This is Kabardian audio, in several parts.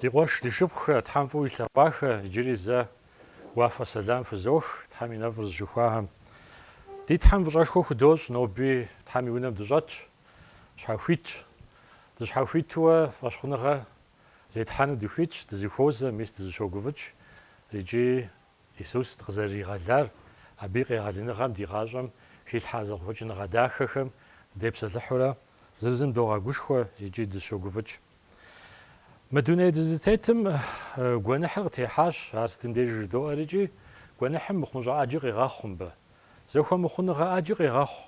Ди къуэш, ди шыпхъухэ, Тхьэм фӏыуэ илъэгъуахэ, иджыри зэ уафэ сэлам фызох Тхьэм и нэфӏыр зыщыхуахэм. Ди Тхьэм фӏыщӏэшхуэ худощӏ, ноби Тхьэм и унэм дыщӏэтщ, щхьэхуитщ. Дыщхьэхуитуэ фӏэщхъуныгъэр зетхьэну дыхуитщ, дызыхуозэ, мис дызыщогуфӏыкӏ икӏи Исус дыкъызэрыригъэлар, Абы и къегъэлыныгъэм ди гъащӏэм хилъхьа зэхъуэкӏыныгъэ дахэхэм дыдепсэлъыхьурэ, зыр зым догъэгушхуэ икӏи дыщогуфӏыкӏ. Мы дуней дызытетым гуэныхьыр къытехьащ, ар сытым дежи жыдоӏэр икӏи, гуэныхьым мыхъумыщӏэ ӏэджи къегъэхъу мыбы. Зэхуэмыхъуныгъэ ӏэджи къегъэхъу.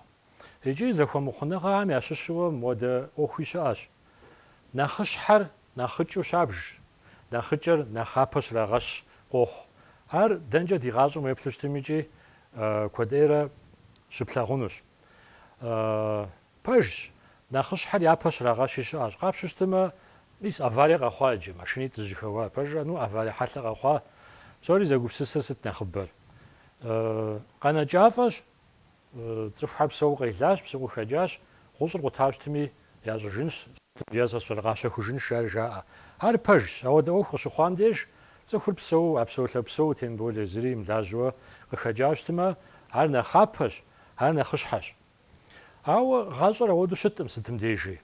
Икӏи зэхуэмыхъуныгъэхэм ящыщу мыуэдэ ӏуэхуи щыӏэщ. Нэхъыщхьэр нэхъыкӏыу щабж, нэхъыкӏэр нэхъапэ щрагъэщ, къохъу. Ар дэнкӏэ ди гъащӏэм уеплъу щытым икӏи куэд ӏейрэ щыплъагъунущ. Пэжщ, нэхъыщхьэр япэ щрагъэщи щыӏэщ. Къапщу щытымэ, мис аварие къэхъуа иджы, машинитӏ зыжьэхэуа, пэжрэ, ну, аварие хьэлъэ къэхъуа, псори зэгупсысыр сыт нэхъыбэр. Къэнэкӏафӏэщ, Цӏыхухэр псэуу къелащ, псэуу къыхэкӏащ, гъущӏыр къута щытми, ящӏыжынщ. Е щӏэри къащэхужынщ ар жаӏэ. Ар пэжщ. Ауэдэ ӏуэху къыщыхъуам деж, цӏыхур псэуу, а псэулъэ псэуу, тем более зыри имылажьэуэ къыхэкӏауэ щытмэ, ар нэхъапэщ, ар нэхъыщхьэщ. Ауэ гъащӏэр ауэдэу щытӏым сытым дежи.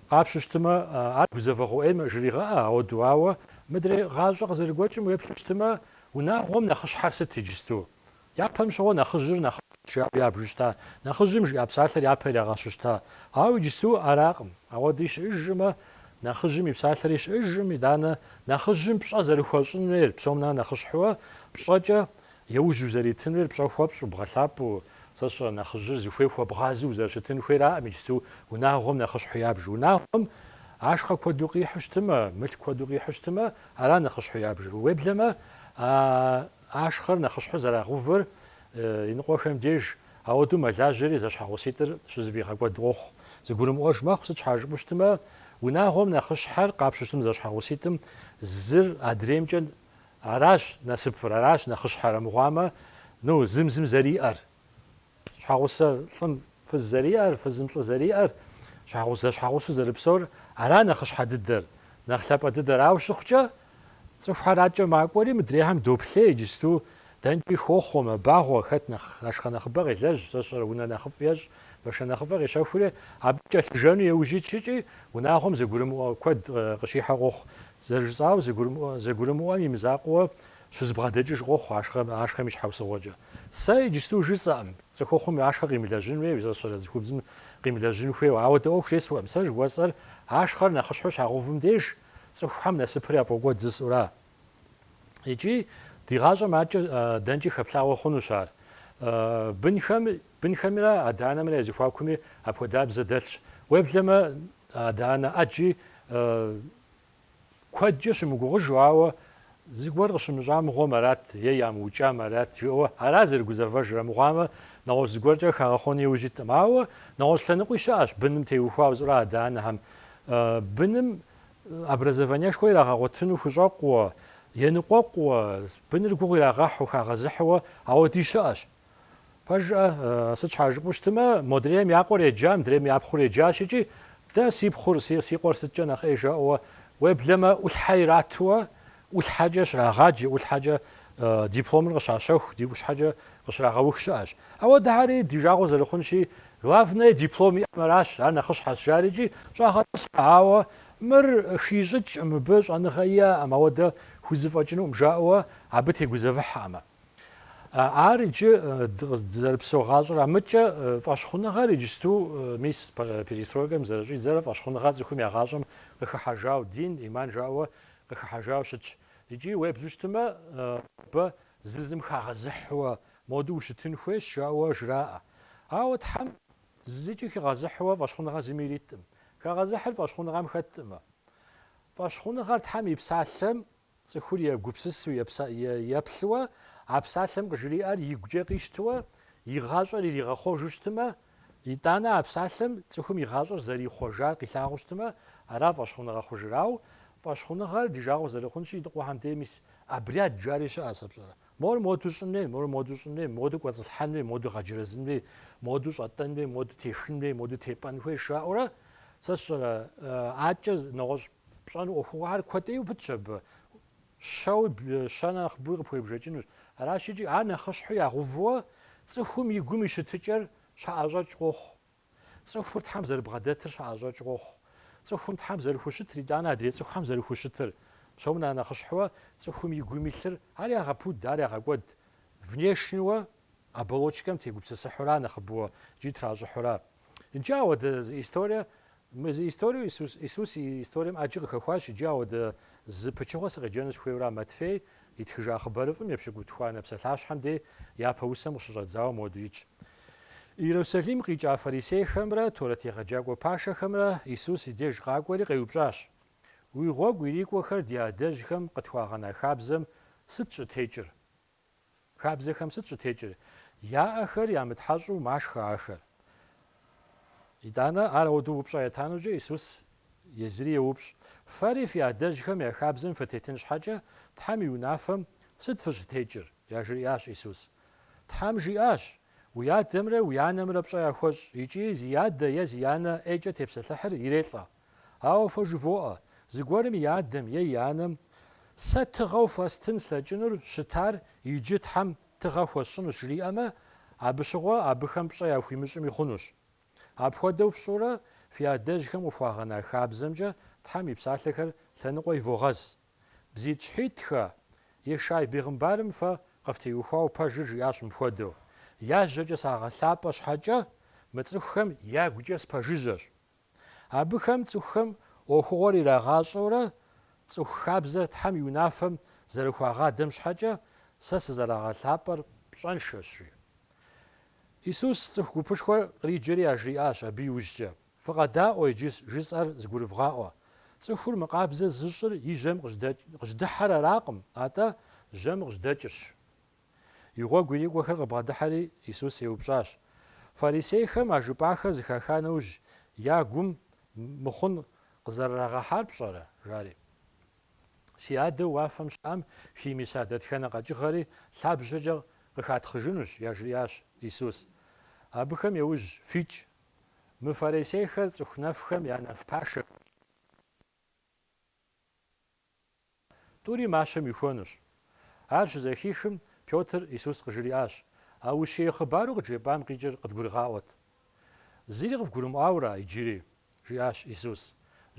Къапщу щытмэ, ар гузэвэгъуэ ӏейм жригъэӏэ ауэду. Ауэ мыдрей гъащӏэ къызэрыгуэкӏым уеплъу щытмэ, унагъуэм нэхъыщхьэр сыт иджысту? Япэм щыгъуэ нэхъыжьыр нэхъыжьу ябжу щыта, нэхъыжьым жиӏа псалъэр япэ ирагъэщу щыта. Ауэ иджысту аракъым. Ауэди щыӏэжмэ, нэхъыжьым и псалъэри щыӏэжым, итӏанэ, нэхъыжьым пщӏэ зэрыхуэщӏын хуейр, псом нэхъ нэхъыщхьэуэ, пщӏэкӏэ еужь узэритын хуейр пщӏэ хуэпщӏу, бгъэлъапӏэу, сэ сщӏэрэ, нэхъыжьыр зыхуей хуэбгъазэу узэрыщытын хуейраӏым иджысту унагъуэм нэхъыщхьэу ябж. Унагъуэм ашхъэ куэду къихьу щытымэ, мылъку куэду къихьу щытымэ, ара нэхъыщхьэу ябжыр. Уеблэмэ, а. ашхъэр нэхъыщхьэу зэрагъэувыр иныкъуэхэм деж, ауэдэу мэлажьэри зэщхьэгъуситӏыр щызэфӏигъэкӏуэд къохъу. Зыгурымыӏуэж мэхъу, сыт щхьа жыпӏэу щытмэ, унагъуэм нэхъыщхьэр къапщу щытым зэщхьэгъуситӏым зыр адреймкӏэ аращ насыпыр, аращ нэхъыщхьэр, армыхъуамэ, ну, зым-зым зэриӏэр. Щхьэгъусэ лӏым фыз зэриӏэр, фызым лӏы зэриӏэр, щхьэгъусэ зэщхьэгъусэу зэрыпсэур, ара нэхъыщхьэ дыдэр, нэхъ лъапӏэ дыдэр. Ауэ щыхъукӏэ, цӏыхухэр адкӏэ макӏуэри, мыдрейхэм доплъей иджысту, дэнкӏи хохъуэ, мэбагъуэ, хэт нэхъ ашхъэ нэхъыбэ къелэжь, сэ сщӏэрэ унэ нэхъыфӏ ещӏ, машинэ нэхъыфӏыр къещэхури, абы кӏэлъыжэну еужь итщ икӏи, унагъуэм зэгурымыӏуэ куэд къыщихьэ къохъу. Зэрыжысӏауэ, зэгурымыӏуэм и мызакъуэуэ Щызэбгъэдэкӏыж къохъу ашхъэм, ашхъэм и щхьэусыгъуэкӏэ. Сэ иджысту жысӏэкъым, цӏыхухъум ашхъэ къимылэжьын хуей, сэ сщӏэрэ цӏыхубзым къимылэжьын хуейуэ, ауэдэ ӏуэху зесхуэкъым. Сэ жыхуэсӏэр, ашхъэр нэхъыщхьэу щагъэувым деж, цӏыхухьэм насыпыр яфӏокӏуэд жысӏэура. Икӏи ди гъащӏэм аткӏэ дэнкӏи хэплъагъуэ хъунущ ар. Бынхэм, бынхэмрэ адэ-анэмрэ я зэхуакуми апхуэдабзэ дэлъщ. Уеблэмэ, адэ-анэ ӏэджи Куэдкӏэ щымыгугъыжу, ауэ зыгуэр къыщымыщӏа мыгъуэм арат е ямыукӏам арат жиӏэуэ ара зэрыгузэвэжыр, амыхъуамэ, нэгъуэщӏ зыгуэркӏэ хагъэхъуэну иужь иткъым. Ауэ нэгъуэщӏ лъэныкъуи щыӏэщ, быным теухуауэ жысӏэура адэ-анэхэм быным образованиешхуэ ирагъэгъуэтыну хущӏэкъууэ, еныкъуэкъууэ, быныр гугъу ирагъэхьу, хагъэзыхьуэ ауэди щыӏэщ. Пэжкъэ, сыт щхьа жыпӏэу щытымэ, модрейм я къуэр еджа, мыдрейм я пхъур еджащ икӏи, дэ си пхъур, си, си къуэр сыткӏэ нэхъ ӏей жаӏэуэ, уеблэмэ, ӏулъхьэ иратуэ, ӏулъхьэкӏэ щрагъаджи, ӏулъхьэкӏэ дипломыр къыщащэху, ди ӏулъхьэкӏэ къыщрагъэух щыӏэщ. Ауэдэхьэри ди жагъуэ зэрыхъунщи, главное диплом иӏэм аращ, ар нэхъыщхьэщ, жари икӏи щӏагъэтӏысхьэ, ауэ мыр хищӏыкӏ, мыбы щӏэныгъэ иӏэкъым, ауэдэ хузэфӏэкӏынукъым жаӏэуэ абы тегузэвыхькъымэ. Ар иджы дызэрыпсэу гъащӏэра. Мыдкӏэ фӏэщхъуныгъэр иджысту, мис перестройкэм зэрыщӏидзэрэ фӏэщхъуныгъэр цӏыхум я гъащӏэм къыхыхьэжау, дин, иман жаӏэуэ къыхыхьэжауэ щытщ. Икӏи уеблу щытмэ, абы зыр зым хагъэзыхьуэ моду ущытын хуейщ жаӏэуэ жраӏэ. Ауэ Тхьэм зыкӏи хигъэзыхьуэ фӏэщхъуныгъэ зыми ириткъым. Хагъэзыхьыр фӏэщхъуныгъэм хэткъымэ. Фӏэщхъуныгъэр Тхьэм и Псалъэм Цӏыхур егупсысу, еплъыуэ а псалъэм къыжриӏэр игукӏэ къищтыуэ, и гъащӏэр иригъэхъуэжу щытымэ, итӏанэ а псалъэм цӏыхум и гъащӏэр зэрихъуэжар къилъагъуу щытымэ, ара фӏэщхъуныгъэ хъужыр. Ауэ фӏэщхъуныгъэр ди жагъуэ зэрыхъунщи, ныкъуэхьэм дей мис обряд жари щыӏэ сэ пщӏэрэ? Мор моду щӏын хуей, мор моду щӏын хуей, моду кӏуэцӏылъхьэн хуей, моду гъэджэрэзын хуей, моду щӏэтӏэн хуей, моду техын хуей, моду тепӏэн хуей жаӏэурэ сэ сщӏэрэ? Адэкӏэ нэгъуэщӏ Пщӏэну ӏуэхугъуэхэр куэдыӏейуэ пытщ абы. Щэуи щэ нэхъыбэуи къыпхуебжэкӏынущ. Аращ икӏи, ар нэхъыщхьэу ягъэувыуэ, цӏыхум и гум и щытыкӏэр щаӏэщӏэкӏ къохъу. Цӏыхур Тхьэм зэрыбгъэдэтыр щаӏэщӏэкӏ къохъу. Цӏыхум Тхьэм зэрыхущытыр, итӏанэ адрей цӏыхухэм зэрыхущытыр. Псом нэхъ нэхъыщхьэуэ, цӏыхум и гум илъыр, ар ягъэпуд, ар ягъэкӏуэд. Внешнеуэ Оболочкэм тегупсысыхьура нэхъыбэу икӏи тращӏыхьура? Иджы ауэдэ зы историе, мы зы историеу Исус и историем ӏэджи къыхэхуащ, иджы ауэдэ зы пычыгъуэ сыкъеджэну сыхуейура Матфей итхыжа хъыбарыфӏым епщыкӏутхуанэ псалъащхьэм дей япэ усэм къыщыщӏэдзауэ моду итщ. Иерусалим къикӏа фарисейхэмрэ Торэт егъэджакӏуэ пашэхэмрэ Исус и деж къакӏуэри къеупщӏащ, Уи гъуэгу ирикӏуэхэр ди адэжьхэм къытхуагъэна хабзэм сыт щӏытекӏыр? Хабзэхэм сыт щӏытекӏыр? Яӏэхэр ямытхьэщӏу машхэ ахэр. Итӏанэ, ар ауэдэу упщӏэ етанукӏэ, Исус езыри еупщӏ, Фэри фи адэжьхэм я хабзэм фытетын щхьэкӏэ, Тхьэм и унафэм сыт фыщытекӏыр? яжриӏащ Исус. Тхьэм жиӏащ, Уи адэмрэ уи анэмрэ пщӏэ яхуэщӏ икӏи зи адэ е зи анэ ӏейкӏэ тепсэлъыхьыр ирелӏэ. Ауэ фэ жывоӏэ, зыгуэрым и адэм е и анэм Сэ тыгъэу фэстын слъэкӏынур щытар иджы Тхьэм тыгъэ хуэсщӏынущ жриӏэмэ, абы щыгъуэ абыхэм пщӏэ яхуимыщӏми хъунущ. Апхуэдэу фщӏурэ, фи адэжьхэм къыфхуагъэна хабзэмкӏэ Тхьэм и псалъэхэр лъэныкъуэ ивогъэз. Бзитӏщхьитӏхэ, Ешай бегъымбарым фэ къыфтеухуауэ пэжыр жиӏащ мыпхуэдэу, Я жьэкӏэ сагъэлъапӏэ щхьэкӏэ, мы цӏыхухэм ягукӏэ спэжыжьэщ. Абыхэм цӏыхухэм ӏуэхугъуэр ирагъащӏэурэ, цӏыху хабзэр Тхьэм и унафэм зэрыхуагъадэм щхьэкӏэ сэ сызэрагъэлъапӏэр пщӏэншэщ, жи. Исус цӏыху гупышхуэр къриджэри яжриӏащ абы иужькӏэ, Фыкъэдаӏуэ иджы жысӏэр зыгурывгъаӏуэ. Цӏыхур мыкъабзэ зыщӏыр и жьэм къыжьдыхьэр аракъым, атӏэ жьэм къыжьдэкӏырщ. И гъуэгу ирикӏуэхэр къыбгъэдыхьэри, Исус еупщӏащ. Фарисейхэм а жыпӏахэр зыхаха нэужь, я гум мыхъун къызэрырагъэхьар пщӏэрэ? жари. Си Адэу уафэм щыӏэм химыса дэтхэнэ къэкӏыгъэри лъабжьэкӏэ къыхатхъыжынущ, яжриӏащ Исус. Абыхэм яужь фикӏ. Мы фарисейхэр цӏыху нэфхэм я нэф пашэхэщ. Тӏури мащэм ихуэнущ. Ар щызэхихым, Пётр Исус къыжриӏащ, А ущие хъыбару къыджепӏам къикӏыр къыдгурыгъаӏуэт. Зыри къывгурымыӏуауэра иджыри? жиӏащ Исус.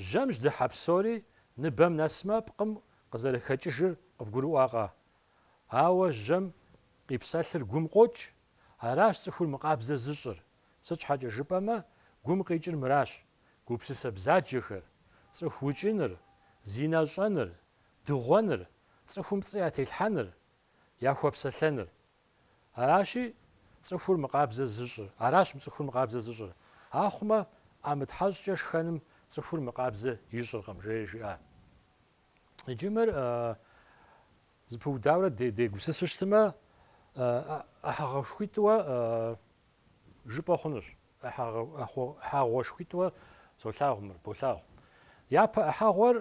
Жьэм жьдыхьэ псори ныбэм нэсмэ, пкъым къызэрыхэкӏыжыр къывгурыӏуакъэ? Ауэ жьэм къипсэлъыр гум къокӏ, аращ цӏыхур мыкъабзэ зыщӏыр. Сыт щхьэкӏэ жыпӏэмэ, гум къикӏыр мыращ, гупсысэ бзаджэхэр, цӏыху укӏыныр, зинэ щӏэныр, дыгъуэныр, цӏыхум пцӏы ятелъхьэныр, яхуэпсэлъэныр. Аращи, цӏыхур мыкъабзэ зыщӏыр, аращ мы цӏыхур мыкъабзэ зыщӏыр. Ахъумэ, ӏэмытхьэщӏкӏэ шхэным цӏыхур мыкъабзэ ищӏыркъым, жери жиӏа. Иджы мыр зыпыудаурэ дегупсысу щытымэ, ӏыхьэгъуэшхуитӏуэ жыпӏэ хъунущ. ӏыхьэгъуэшхуитӏуэ солъагъу мыр, болъагъу. Япэ ӏыхьэгъуэр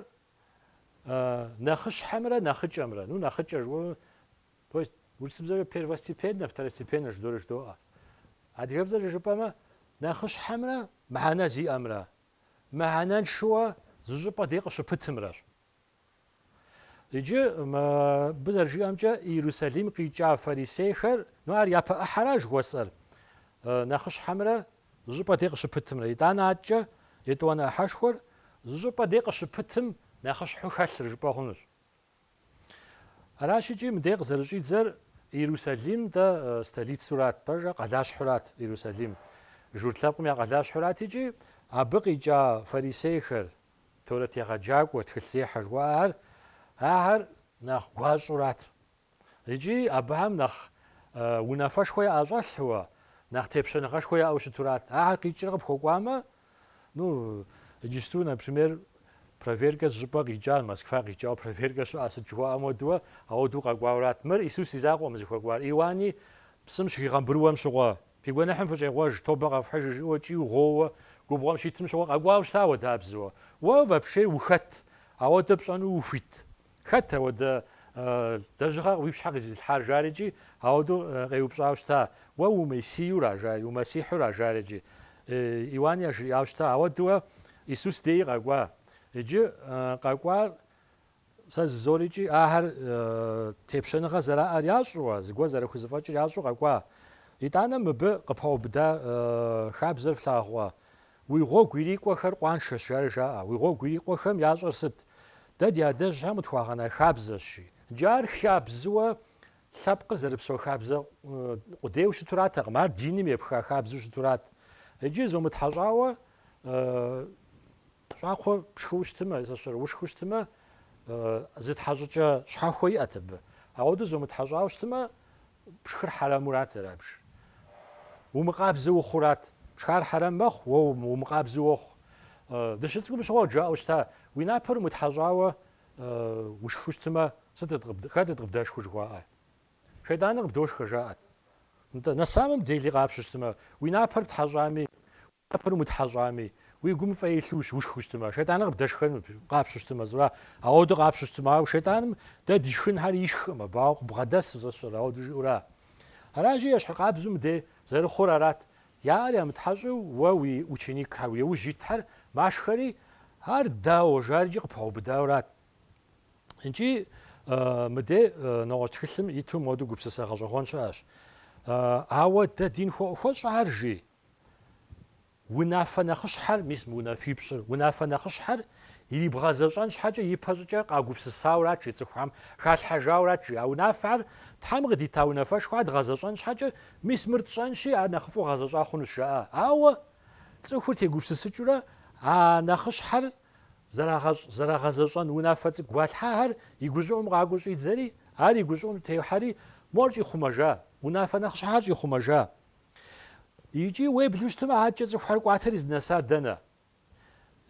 нэхъыщхьэмрэ нэхъыкӏэмрэ, ну, нэхъыкӏэ жыӏэу, то есть урысыбзэкӏэ первостепеннэ, второстепеннэ жыдори жыдоӏэ. Адыгэбзэкӏэ жыпӏэмэ, нэхъыщхьэмрэ мыхьэнэ зиӏэмрэ, мыхьэнэншэуэ зы щӏыпӏэ дей къыщыпытымрэщ. Иджы мыбы зэрыжиӏэмкӏэ Иерусалим къикӏа фарисейхэр, ну ар япэ ӏыхьэра жыхуэсӏэр, нэхъыщхьэмрэ зы щӏыпӏэ дей къыщыпытымрэ. Итӏанэ адэкӏэ етӏуанэ ӏыхьэшхуэр зы щӏыпӏэ дей къыщыпытым нэхъыщхьэу хэлъыр жыпӏэ хъунущ. Аращ икӏи мыдей къызэрыщӏидзэр Иерусалим дэ столицурат, пэжа, къалащхьурат Иерусалим. Журт лъэпкъым я къалащхьурат икӏи абы къикӏа фарисейхэр, Торэт егъэджакӏуэ, тхылъзехьэ жыхуаӏэхэр ахэр нэхъ гуащӏурат икӏи абыхэм нэхъ унафэшхуэ яӏэщӏэлъууэ, нэхъ тепщэныгъэшхуэ яӏэу щытурат. Ахэр къикӏрэ къыпхуэкӏуамэ, ну, иджысту, например, проверкэ зыщӏыпӏэ къикӏа, Москва къикӏауэ проверкэ щыӏэ, сыт жыхуаӏэм хуэдэуэ, ауэдэу къэкӏуаурат. Мыр Исус и закъуэкъым зыхуэкӏуар. Иуани псым щыхигъэмбрыуэм щыгъуэ Фи гуэныхьым фыщӏегъуэж, тобэ къэфхьыж, жыӏэу кӏийуэ гъууэ губгъуэм щитым щыгъуэ къэкӏуауэ щыта ауэдабзэуэ. Уэ вообще ухэт? Ауэдэ пщӏэну ухуит? Хэт ауэдэ лэжьыгъэ уи пщхьэ къызилъхьар жари икӏи, ауэдэу къеупщӏауэ щыта, Уэ умесиюра? жари, Умэсихьура? жари икӏи, Иуан яжриӏауэ щыта, Ауэдууэ Исус деи къэкӏуа. Иджы къэкӏуар Сэ зызори икӏи ахэр тепщэныгъэ зэраӏэр ящӏууэ, зыгуэр зэрыхузэфӏэкӏыр ящӏу къэкӏуа. Итӏанэ мыбы къыпэубыда хабзэр флъагъуэ, Уи гъуэгу ирикӏуэхэр къуаншэщ, жари жаӏэ. Уи гъуэгу ирикӏуэхэм ящӏэр сыт? Дэ ди адэжьхэм къытхуагъэна хабзэщ. Иджы ар хабзыуэ лъэпкъыр зэрыпсэу хабзэ къудейуэ щытуратэкъым, ар диным епха хабзэу щытурат. Иджы зомытхьэщӏауэ Щӏакхъуэ пшхыу щытымэ, зэщӏэрыушхыу щытымэ, зы тхьэщӏыкӏэ щхьэхуэ иӏэт абы. Ауэдэу зомытхьэщӏауэ щытымэ, пшхыр хьэрэмурат зэрабжыр. Умыкъабзэ ухъурат. Пшхар хьэрэм мэхъу, уэ умыкъабзэу уохъу. Дыщыцӏыкӏум щыгъуэ къыджаӏэу щыта, уи напэр умытхьэщӏауэ ушхыу щытымэ, сыт, хэтыт къыбдэшхыу жыхуаӏэр? Шейтӏаныр къыбдошхэ, жаӏэт. Нтӏэ, на самом деле къапщу щытымэ, уи напэр птхьэщӏами, Напэр умытхьэщӏами, уи гум фӏей илъу ущыушхыу щытмэ, шейтӏаныр къыбдэшхэнут, къапщу щытмэ, зыра, ауэду къапщу щытмэ. Ауэ шейтӏаным дэ ди шхынхэр ишхкъым, абауэ къыбгъэдэс узэсщӏэр, ауэду жиӏэура? Аращи, ещхьыркъабзэу мыдей зэрыхъур арат, яӏэр ямытхьэщӏэу уэ уи ученикхэр, уи яужь итхэр машхэри, ар дауэ жари икӏи къыпаубыдаурат. Икӏи мыдей нэгъуэщӏ тхылъым иту моду гупсысэ гъэщӏэгъуэн щыӏэщ. Ауэдэ дин хуэӏухуэщӏэхэр, жи? Унафэ нэхъыщхьэр, мис мы унафипщӏыр, унафэ нэхъыщхьэр ирибгъэзэщӏэн щхьэкӏэ ипэ щӏыкӏэ къагупсысаурат жи цӏыхухэм, халъхьэжаурат жи. А унафэр Тхьэм къыдита унафэшхуэ, ар дгъэзэщӏэн щхьэкӏэ, мис мыр тщӏэнщи, ар нэхъыфӏу гъэзэщӏа хъунущ, жаӏэ. Ауэ цӏыхур тегупсысыкӏыурэ а нэхъыщхьэр зэрагъэщӏ, зэрагъэзэщӏэн унафэ цӏыкӏу гуалъхьэхэр и гущӏыӏум къакӏуэу щӏидзэри, ар и гущӏыӏум техьэри, мор щӏихъумэжа, унафэ нэхъыщхьэр щӏихъумэжа. Икӏи уеблэу щытмэ, абыкӏэ цӏыхухэр кӏуатэри зынэсар дэнэ?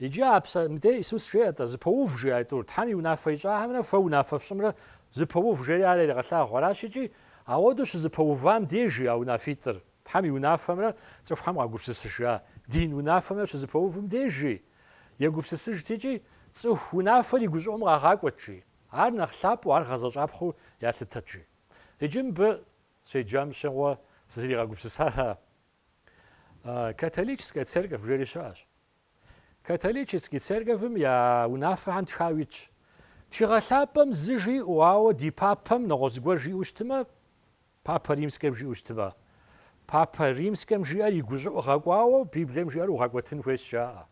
Иджы а псэ, мыдей Исус жеӏэ-тӏэ, зыпоув, жиӏа тӏур, Тхьэм и унафэ ищӏахэмрэ фэ унафэ фщӏымрэ зыпоув жери ар яригъэлъагъуу аращ икӏи, ауэдэу щызыпэувам дежи а унафитӏыр, Тхьэм и унафэмрэ цӏыхухэм къагупсысыжа дин унафэмрэ щызыпэувым дежи, егупсысыжт икӏи, цӏыху унафэр и гущӏыӏум къагъакӏуэт, жи, ар нэхъ лъапӏэу, ар гъэзэщӏапхъэу ялъытэт, жи. Иджы мыбы Сщеджам щыгъуэ сызригъэгупсысар а Католическэ церковь жери щыӏэщ. Католический церковьым я унафэхэм тхауэ итщ. Тхыгъэ лъапӏэм зы жиӏэу, ауэ ди папэм нэгъуэщӏ зыгуэр жиӏэу щытмэ, Папэ Римскэм жиӏэу щытмэ, Папэ Римскэм жиӏэр и гущӏыӏу гъэкӏуауэ Библием жиӏэр угъэкӏуэтын хуейщ жаӏэ.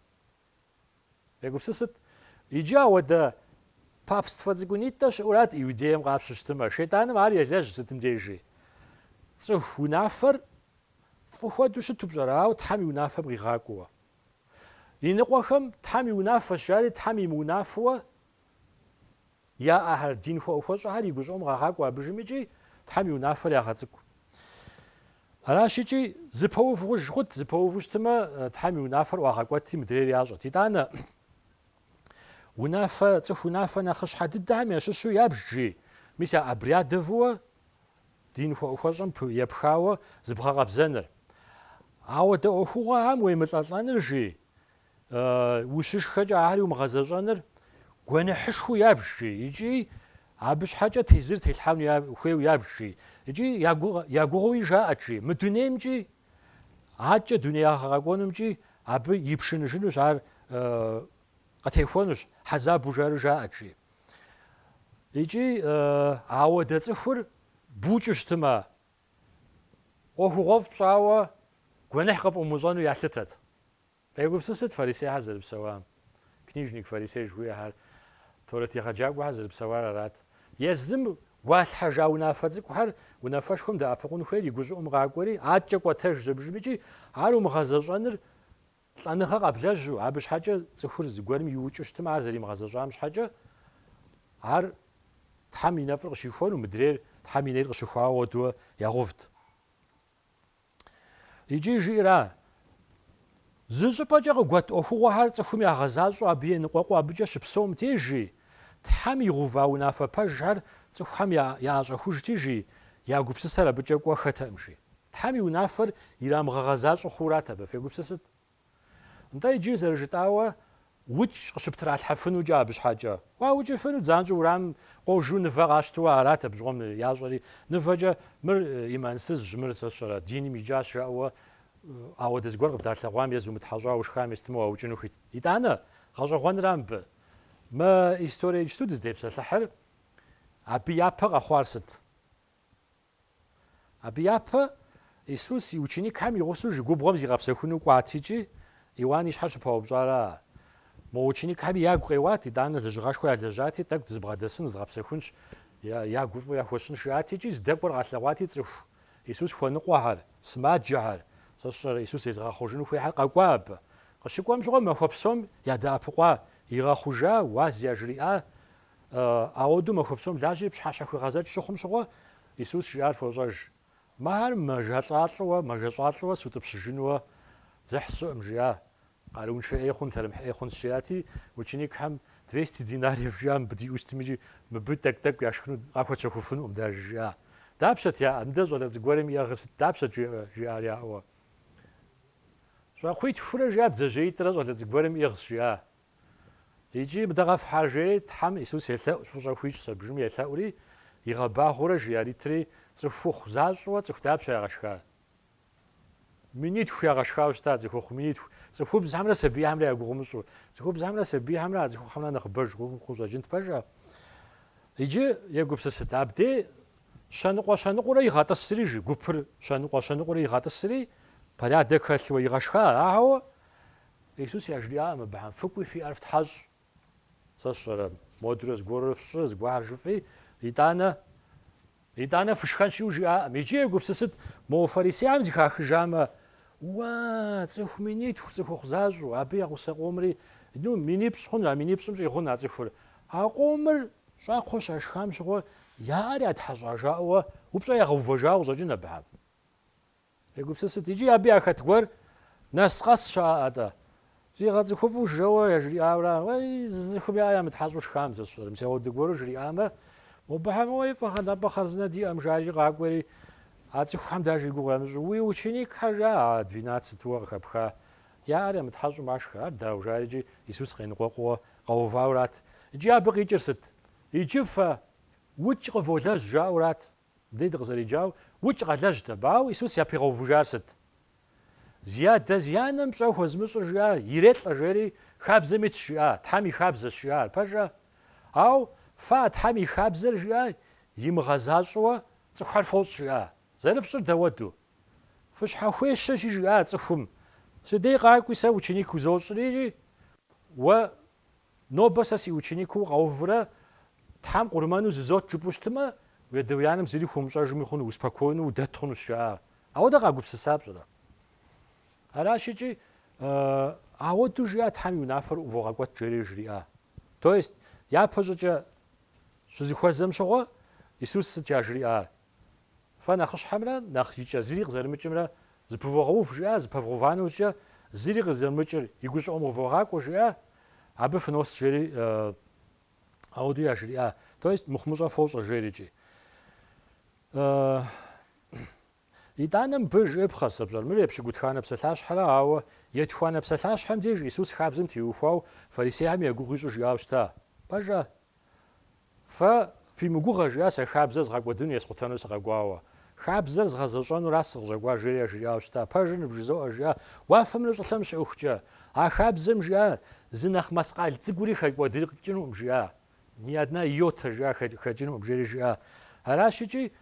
Егупсысыт, иджы ауэдэ папствэ цӏыкӏунитӏэ щыӏурат Иудеем къапщу щытымэ, шейтӏаным ар елэжь сытым дежи. Цӏыху унафэр фӏы хуэдэу щыту пщӏэра, ауэ Тхьэм и унафэм къигъакӏуэуэ? Иныкъуэхэм Тхьэм и унафэщ жари Тхьэм имыунафэуэ Яӏэхэр, дин хуэӏухуэщӏэхэр и гущӏыӏум къагъакӏуэ абдежым икӏи Тхьэм и унафэр ягъэцӏыкӏу. Аращ икӏи, зыпэув гъуж хъут, зыпэуву щытымэ, Тхьэм и унафэр ӏуагъэкӏуэти, мыдрейр ящӏэт. Итӏанэ, унафэ, цӏыху унафэ нэхъыщхьэ дыдэхэм ящыщу ябж жи, мис я обрядовуэ дин хуэӏухуэщӏэм епхауэ зыбгъэкъэбзэныр. Ауэдэ ӏуэхугъуэхэм уемылӏэлӏэныр жи, ущышхэкӏэ ахэри умыгъэзэщӏэныр гуэныхьышхуэу ябж жи икӏи абы щхьэкӏэ тезыр телъхьэну хуейуэ ябж жи икӏи я гугъэуи жаӏэт жи мы дунеймкӏи аткӏэ дунеягъэ къэкӏуэнумкӏи абы ипшыныжынущ ар къытехуэнущ хьэзабу жари жаӏэт жи икӏи ауэдэ цӏыхур букӏыу щытымэ ӏуэхугъуэфӏ пщӏауэ гуэныхь къыпӏумыщӏэну ялъытэт Къегупсысыт фарисейхэр зэрыпсэуам. Книжник, фарисей жыхуиӏэхэр Торэт егъэджакӏуэхэр зэрыпсэуар арат. Езым гуалъхьэжа унафэ цӏыкӏухэр унафэшхуэм дэӏэпыкъун хуейр и гущӏыӏум къакӏуэри, аткӏэ кӏуэтэж зэбжым икӏи ар умыгъэзэщӏэныр лӏэныгъэ къэблэжьу, абы щхьэкӏэ цӏыхур зыгуэрым иукӏыу щытмэ, ар зэримыгъэзэщӏам щхьэкӏэ, ар Тхьэм и нэфӏыр къыщихуэну, мыдрейр Тхьэм и нейр къыщыхуауэ ауэдууэ ягъэувт. Икӏи жиӏэра, зы щӏыпӏэкӏэ къыгуэт ӏуэхугъуэхэр цӏыхум ягъэзащӏэу абы еныкъуэкъуу абыкӏэ щыпсэум деж жи, Тхьэм игъэува унафэ пэжхэр цӏыхухэм яӏэщӏэхужти жи, я гупсысэр абыкӏэ кӏуэхэтэкъым жи. Тхьэм и унафэр ирамыгъэгъэзащӏэу хъуурат абы, фегупсысыт. Нтӏэ иджы, зэрыжытӏауэ, укӏ къыщыптралъхьэфынукӏэ абы щхьэкӏэ. Уаукӏыфыну, дзанщӏэу уэрамым къожу нывэ къащтууэ арат абы щыгъуэм ящӏэри, нывэкӏэ, Мыр имансызщ, мыр сэ сщӏэрэ, диным икӏащ, жаӏэуэ ауэдэ зыгуэр къыбдалъэгъуам е зумытхьэщӏауэ ушхам е сытмэ уаукӏыну хуит. Итӏанэ, гъэщӏэгъуэнра мыбы? Мы история иджыту дыздепсэлъыхьыр, абы япэ къэхъуар сыт? Абы япэ Исус и ученикхэм и гъусэу жи губгъуэм зигъэпсэхуну кӏуат икӏи Иуан и щхьэр щыпаупщӏара? Мо ученикхэми ягу къеуат, итӏанэ лэжьыгъэшхуэ ялэжьати, тӏэкӏу дызэбгъэдэсын, зыгъэпсэхунщ, ягу фӏы яхуэщӏын жиӏат икӏи здэкӏуэр къалъэгъуати цӏыху Исус хуэныкъуэхэр, сымаджэхэр, сэ сщӏэрэ, Исус зезыгъэхъужыну хуейхэр къэкӏуа абы. Къыщыкӏуэм щыгъуэ махуэ псом ядэӏэпыкъуа, игъэхъужа, уаз яжриӏа, Ауэдэу махуэ псом лажьэри пщхьэщхьэ хуигъэзэкӏ щыхъум щыгъуэ, Исус жиӏар фощӏэж, Мыхэр мэжэлӏалӏэуэ, мэжэщӏалӏэуэ сутӏыпщыжынууэ дзыхь сщӏыӏым, жиӏа. Къарууншэ ӏей хъун, лъэрымыхь ӏей хъунщ, жиӏати, ученикхэм, Двести динариев жиӏа мыбы диӏэу щытми икӏи мыбы тӏэкӏу-тӏэкӏу яшхыну къахуэтщэхуфынукъым дэ, жиӏа. Дапщэт яӏэр? Мыдэ щӏалэ цӏыкӏугуэрым иӏыгъыр сыт, дапщэт жеӏэ? жиӏар яӏэуэ. Щӏакхъуитхурэ жиӏа бдзэжьеитӏрэ щӏалэ цӏыкӏугуэрым иӏыгъщ, жиӏа. Икӏи мыдэ къэфхь жери Тхьэм Исус елъэӏущ, фӏыщӏэ хуищӏ сэ бжым елъэӏури, игъэбагъуурэ жи яритри, цӏыхухъу защӏэуэ цӏыху дапщэ ягъэшхар? Минитху ягъэшхауэ щыта, цӏыхухъу минитху, цӏыхубзхэмрэ сабийхэмрэ я гугъу умыщӏу, цӏыхубзхэмрэ сабийхэмрэ а цӏыхухъухэмрэ нэхъыбэж къыщӏэкӏынт пэжа? Иджы егупсысыт, абдей щэныкъуэ-щэныкъуурэ игъэтӏысри, жи гупыр щэныкъуэ-щэныкъуурэ игъэтӏысри, порядок хэлъуэ игъэшха, ауэ Исус яжриӏаӏым абыхьэм, Фыкӏуи фи ӏэр фтхьэщӏ. Сэ сщӏэрэ, модурэ зыгуэрурэ фщӏы, зыгуэхьэр жыфӏи, итӏанэ, итӏанэ фышхэнщиу жиӏаӏым. Иджы егупсысыт, мо фарисейхэм зыхахыжамэ, Уа, цӏыху минитху, цӏыхухъу защӏу, абы я гъусэ къомри, ну, минипщӏ хъун, а минипщӏым щӏигъун а цӏыхур. А къомыр щӏакхъуэ щашхам щыгъуэ, я ӏэр ятхьэщӏа жаӏэуэ упщӏэ ягъэувэжауэ къыщӏэкӏын абыхьэм. Егупсысыт, иджы абы яхэт гуэр нэс къэс щыӏэӏэ-тӏэ? Зигъэцӏыхуфӏу жэуэ яжриӏауэра? Уей, зы цӏыхум яӏэ ямытхьэщӏу шхам, сэ сщӏэрэ, мис ауэду гуэру жриӏамэ, мобыхьэм, уей, фӏыхьэ нтӏэпӏэ хъарзынэ диӏэм, жари къакӏуэри, а цӏыхухьэм даже и гугъу ямыщӏу, уи ученикхэр, жаӏэ, двенадцатуэ къыхэпха, яӏэр ямытхьэщӏу машхэ, ар, дау, жарикӏи Исус къеныкъуэкъууэ къэувауэ арат. Иджы абы къикӏыр сыт? Иджы фэ укӏ къыволэжь жаӏэу арат. Дэ дыкъызэреджауэ укӏ къалэжьт абы, ауэ Исус япигъэувыжар сыт? Зи адэ зи анэм пщӏэ хуэзымыщӏыр жиӏа, ирелӏэ жери, хабзэм итщ жиӏа, Тхьэм и хабзэщ жиӏа, ар пэжа? Ау, фэ а Тхьэм и хабзэр жиӏа, имыгъэзащӏэуэ цӏыхухэр фощӏ жиӏа? Зэрыфщӏыр дауэду? Фыщхьэхуещэщи жиӏа цӏыхум, Си дей къакӏуи сэ ученик узощӏри, уэ Нобэ сэ си ученикыу укъэувурэ Тхьэм къурмэну зызот жыпӏэу щытымэ, уи адэ уи анэм зыри хуумыщӏэжми хъуну, успокойну, удэт хъунущ, жаӏа. Ауэдэ къагупсыса пщӏэрэ? Аращ икӏи, ауэду жиӏа Тхьэм и унафэр ӏувогъэкӏуэт жери жриӏа. То есть, япэщӏыкӏэ щызыхуэзэм щыгъуэ Исус сыт яжриӏар? Фэ нэхъыщхьэмрэ нэхъ икӏэ зыри къызэрымыкӏымрэ зыпывогъэув жиӏа, зыпэвгъэува нэужькӏэ зыри къызэрымыкӏыр и гущӏыӏум къывогъакӏуэ жиӏа, абы фынос жери ауэду яжриӏа, то есть мыхъумыщӏэ фощӏэ жерикӏи. Итӏанэ мыбы жыӏэпхъэщ, пщӏэр, мыр епщыкӏутхуанэ псалъащхьэра, ауэ етхуанэ псалъащхьэм деж Исус хабзэм теухуау фарисейхэм я гугъу ищӏу жиӏау щыта? Пэжа, Фэ фи мыгугъэ, жиӏа, сэ хабзэр згъэкӏуэдыну е скъутэну сыкъэкӏуауэ. Хабзэр згъэзэщӏэнуращ сыкъыщӏэкӏуар, жери яжриӏауэ щыта. Пэжыр нывжызоӏэ, жиӏа, уафэмрэ щӏылъэмрэ щыӏэхукӏэ. А хабзэм, жиӏа, зы нэхъ маскъал цӏыкӏури хэкӏуэдыкӏынуӏым, жиӏа. Ни одна йота, жиӏа, хэкӏынуӏым, жери жиӏа. Аращ икӏи,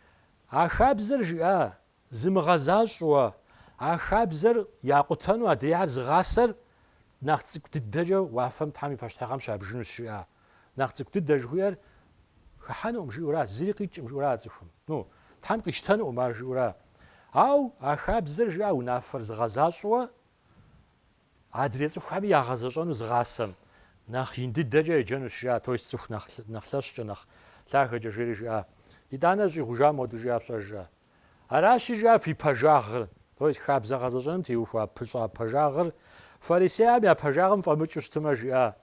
а хабзэр, жиӏа, Зымыгъэзащӏэу, а хабзэр якъутэну адрейхэр зыгъасэр нэхъ цӏыкӏу дыдэкӏэ уафэм Тхьэм и пащтыхьыгъэм щабжынущ жиӏа? Нэхъ цӏыкӏу дыдэ жыхуиӏэр хыхьэнуӏым жиӏэура, зыри къикӏӏым жиӏэура а цӏыхум? Ну, Тхьэм къищтэнуӏым ар жиӏэура? Ау а хабзэр жиӏа унафэр зыгъэзащӏэу адрей цӏыхухэми ягъэзэщӏэну зыгъасэм нэхъ ин дыдэкӏэ еджэнущ жиӏа, то есть цӏыху нэхъ лъэщкӏэ, нэхъ лъагэкӏэ жери жиӏа. Итӏанэ щӏигъужа моду жиӏа пщӏэр жиӏа? Аращи, жиӏа фи пэжагъыр, то есть хабзэ гъэзэщӏэным теухуа пыщӏа пэжагъыр, фарисейхэм я пэжагъым фӏэмыкӏыу щытымэ, жиӏа,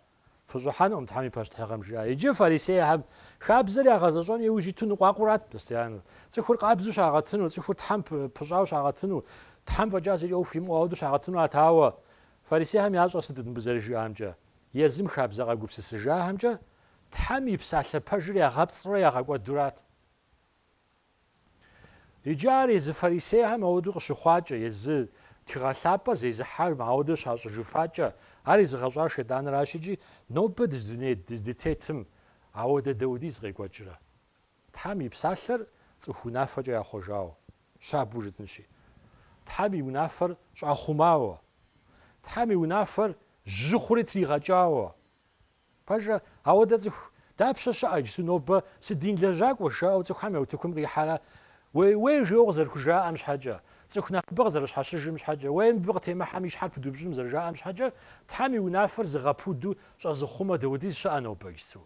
фыщӏыхьэнукъым Тхьэм и пащтыхьыгъэм, жиӏа. Иджы фарисейхэм хабзэр ягъэзэщӏэн иужь иту ныкъуакъуэрат постоянно. Цӏыхур къабзэу щагъэтыну, цӏыхур Тхьэм пыщӏауэ щагъэтыну, Тхьэм фӏэкӏа зыкӏи ӏуэху имыӏэу ауэдэу щагъэтынуат. Ауэ фарисейхэм ящӏэр сытыт мыбы зэрыжиӏамкӏэ? Езым хабзэ къагупсысыжахэмкӏэ Тхьэм и Псалъэ пэжыр ягъэпцӏрэ ягъэкӏуэдурат. Иджы ар езы фарисейхэм ауэдэу къыщыхъуакӏэ, езы Тхыгъэ Лъапӏэр зезыхьэхэм ауэдэу щащӏыжыфакӏэ, ар езыгъэщӏар шейтӏаныращ икӏи нобэ дыз дыздытетым ауэдэ даудиз къекӏуэкӏрэ? Тхьэм и Псалъэр цӏыху унафэкӏэ яхъуэжауэ, щабэу жытӏынщи. Тхьэм и унафэр щӏахъумауэ. Тхьэм и унафэр жьы хъури тригъэкӏауэ. Пэжа, ауэдэ цӏыху дапщэ щыӏэ иджысу нобэ сыдин лэжьакӏуэ жаӏэу цӏыхухэм я утыкум къихьэрэ? Уей, уей жеуэ къызэрыхужаӏэм щхьэкӏэ, цӏыху нэхъыбэ къызэрыщхьэщыжым щхьэкӏэ, уей мыбы къытемыхьэм и щхьэр пыдупщӏыным зэрыжаӏэм щхьэкӏэ, Тхьэм и унафэр зыгъэпуду щӏэзыхъумэ даудиз щыӏэ нобэ иджысу?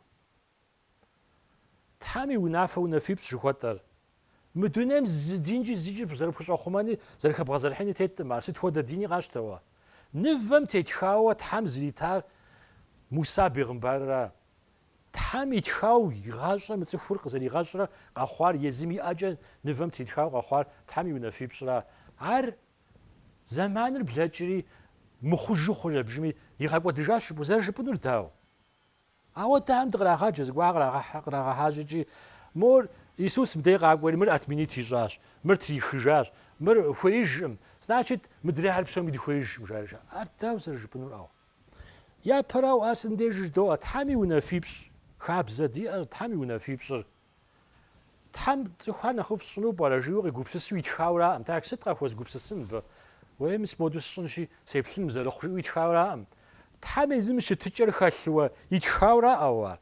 Тхьэм и унафэ унафипщӏ жыхуэтӏэр? Мы дунейм зы динкӏи зыкӏи зэрыпхущӏэхъумэни зэрыхэбгъэзэрыхьыни теткъым ар, сыт хуэдэ дини къащтэуэ. Нывэм тетхауэ Тхьэм зритар Муса бегъымбарра? Тхьэм итхауэ игъащӏэ мы цӏыхур къызэригъэщӏрэ къэхъуар езым иӏэкӏэ нывэм тетхауэ къэхъуар Тхьэм и унафипщӏра? Ар зэманыр блэкӏри, мыхъужу хъурэ бжыми, игъэкӏуэдыжащ жыпӏэу, зэрыжыпӏынур дауэ? Ауэдэхэм дыкърагъаджэ, зыгуэр кърагъэхьэжьэкӏи, мор Иисус мыдей къакӏуэри, мыр отменить ищӏащ, мыр трихыжащ, мыр хуеижкъым, значит, мыдряхьэр псоми дыхуеижкъым, жаӏэр жаӏэ. Ар дауэ зэрыжыпӏэнур ауэ? Япэрауэ, ар сындежи жыдоӏэ, Тхьэм и унафипщӏ, хабзэ диӏэр, Тхьэм и унафипщӏыр. Тхьэм цӏыхухэр нэхъыфӏ сщӏыну пӏэрэ? жиӏэу къигупсысу итхауракъым. Тхьэ, сыт къахуэзгупсысын абы? Уей, мис моду сщӏынщи, сеплъыным зэрыхъу, жиӏэу итхауракъым. Тхьэм езым и щытыкӏэр хэлъууэ итхауракъэу ар?